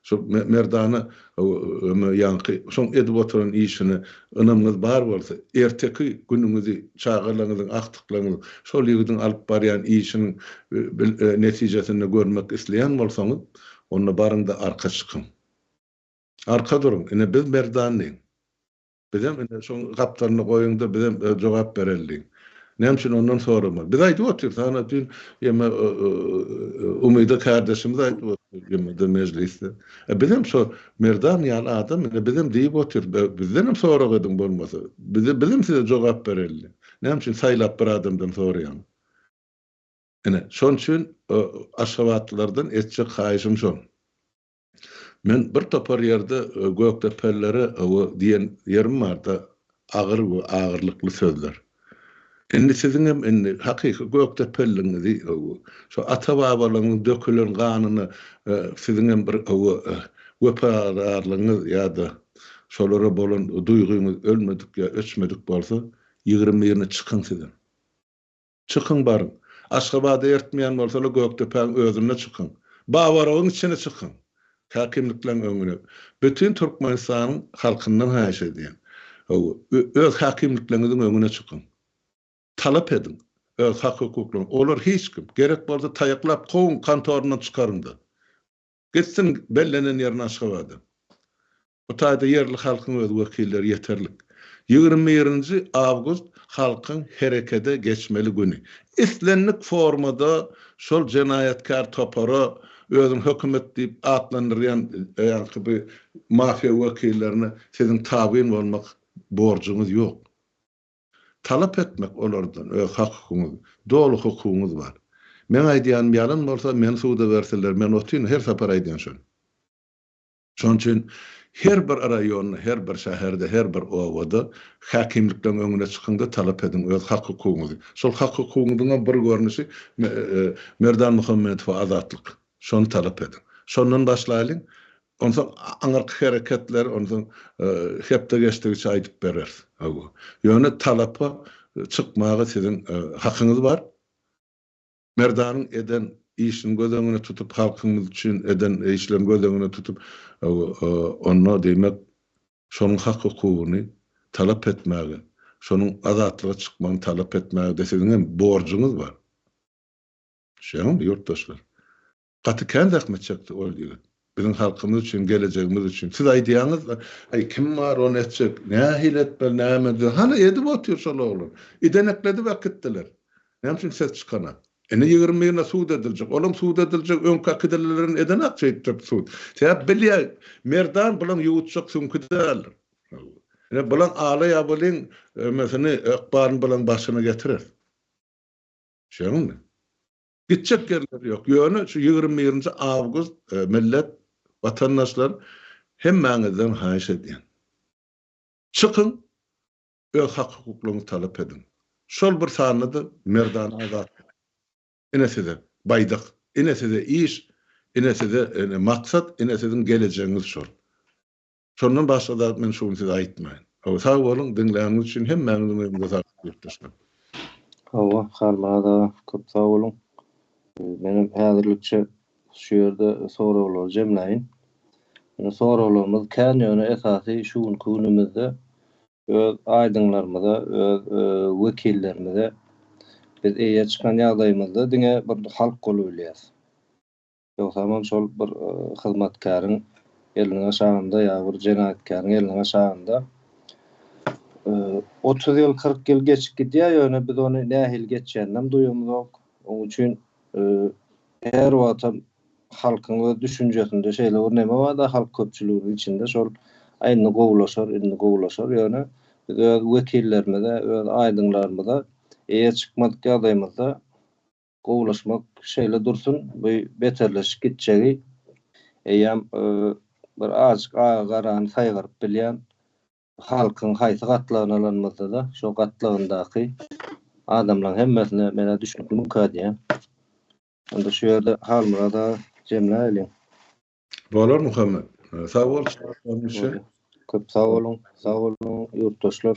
şol merdana ömür ýaňky şoň edip oturan işine ynamyňyz bar bolsa, erteki günüňizi, çagalaryňyzyň, agtyklaryňyzyň şol ýigidiň alyp barýan işiniň netijesinde görmek isleýän bolsaňyz, onda baryň-da arka çykyň. Arka duruň, ine biz merdan diýiň. Bizem indi şoň gapdalyna goýuň-da, bizem öz jogap bereli diýiň. Näme üçin ondan soramaly? Biz aýdyp otyrys, ana düýn ýeme Umyda kärdeşimiz aýdyp otyrdy ýemede mejlisde. E bizem şo Merdan ýaly adam indi bizem diýip otyrys, be bizdenem sorag ediň bolmasa. Biz bizem size jogap bereli. Näme üçin saýlap bir adamdan soraýaň? Ine, şon üçin aşgabatlylardan etjek haýyşym şon. Men bir topar ýerde Gökdepelilere we diýen ýerim barda agyr we agyrlykly sözler. Indi siziňem indi hakyky Gökdepeliligiňizi şo ata babalaryňyzyň dökülen ganyna siziňem bir wepadarlygyňyz ýa-da şolara bolan duýgyňyz ölmedik ýa öçmedik bolsa ýigrimi birine çykyň sizem. Çykyň baryň. Aşgabada ertmeýän bolsalar Gökdepäň özünde çykyň. Babarogyň içine çykyň. Häkimlikleň öňüne. Bütin Türkmenistanyň halkyndan haýyş edýän. Hawa, öz häkimlikleňiziň öňüne çykyň. Talap ediň. Öz hak-hukuklaryňyz. Olar hiç kim. Gerek bolsa taýaklap kowuň, kantoryndan çykaryňda. Gitsin bellenen ýerine Aşgabada. Bu taýda ýerli halkyň öz wekilleri ýeterlik. Ýigrimi birinji awgust halkyň herekede geçmeli güni. Islendik formada şol jenaýatkär topara özüni hökümet diýip atlandyrýan ýaňky bu mafiýa wekillerine siziň tabyn bolmak borjuňyz ýok. Talap etmek olardan öz hakykyňyz, doly hukugyňyz bar. Meň aýdýanym ýalan bolsa meni suda bersinler men otyn her sapar aýdýan şony. Şonuň üçin her bir raýonda, her bir şäherde, her bir obada häkimlikleriň öňüne çykyň-da, talap ediň öz hak-hukugyňyzy. Şol hak-hukugyňyzyňam bir görnüşi Merdan Muhammedowa azatlyk. Şony talap ediň. Şondan başlaýlyň. Onsoň aňyrky hereketleri onsoň hepde geçdigiçe aýdyp bereris. Hawa. Ýöne talapa çykmaga siziň hakyňyz bar. Merdanyň eden işini göz öňüne tutup, halkymyz üçin eden işlerini göz öňüne tutup, onda diýmek, şonuň hak-hukugyny talap etmäge, şonuň azatlyga çykmagyny talap etmäge-de siziň hem borjuňyz bar. Düşýäňizmi, ýurtdaşlar? Gaty kän zähmet çekdi ol ýigit. Biziň halkymyz üçin, gelejegimiz üçin. Siz aýdýaňyz-da, Äý, kim bar ony etjek? Nähili etmeli, näme edýär? Hany, edip otyr şol oglan. Idenek-ledip äkitdiler. Näme üçin ses çykana? Indi ýigrimi birine sud ediljek. Olam sud ediljek, öňki äkidilelerini edenak şeýtjek sud. Sebäp bilýär, Merdan bulaň ýuwutjak süňki däldir. Ine, bulaň alaý-abalyň ömesini, ykbalyny bulaň başyna getirer. Düşýäňizmi? Gitjek ýerleri ýok. Ýöne şu ýigrimi birinji awgust millet, watandaşlar hemmäňizden haýyş edýän. Çykyň öz hak-hukuklaryňyzy talap ediň. Şol bir sanda-da merdana azatlyk. Ine size baýdak, ine size iş, ine size maksat, ine siziň gelejegiňiz şol. Şondan başga zat men şu gün size aýtmaýyn. Hawa sag boluň diňläniňiz üçin hemmäňiziň öýüňize saglyk ýurtdaşlar. Hawa Halmyrat aga köp sag boluň. Menem häzirlikçe şu ýerde soraglary jemläýin. Ýöne soraglarymyz kän ýöne esasy şu günki günümizde öz aýdyňlarymyza öz wekillerimize biz eýe çykan ýagdaýymyzda diňe bir halk bolubilýäs. Ýogsamam şol bir hyzmatkäriň elini gaşaganda ýa bir jenaýatkäriň elini gaşaganda otuz ýyl, kyrk ýyl geçip gidýär, ýöne biz ony nähili geçýäninem duýamzok. Oň üçin her wagtam halkyň öz düşünjesinde şeýle bir neme bar-da, halk köpçüliginiň içinde şol Aý indi gowulaşar, indi gowulaşar, ýöne biz öz wekillerimize, öz aýdyňlarymyza eýe çykmadyk ýagdaýymyzda Gowulaşmak şeýle dursun, bu beterleşip gitjegi. Eýýäm bir azajyk agy-garany saýgaryp bilýän halkyň haýsy gatlagyny alanymyzda-da, şo gatlagyndaky adamlaryň hemmesine men-ä düşnükli münkä diýýän. Onda şu ýerde Halmyrat aga jemläýeliň. Bolar Muhammet. Sag bol çykyşlaryň üçin. Köp sag boluň. Sag boluň ýurtdaşlar.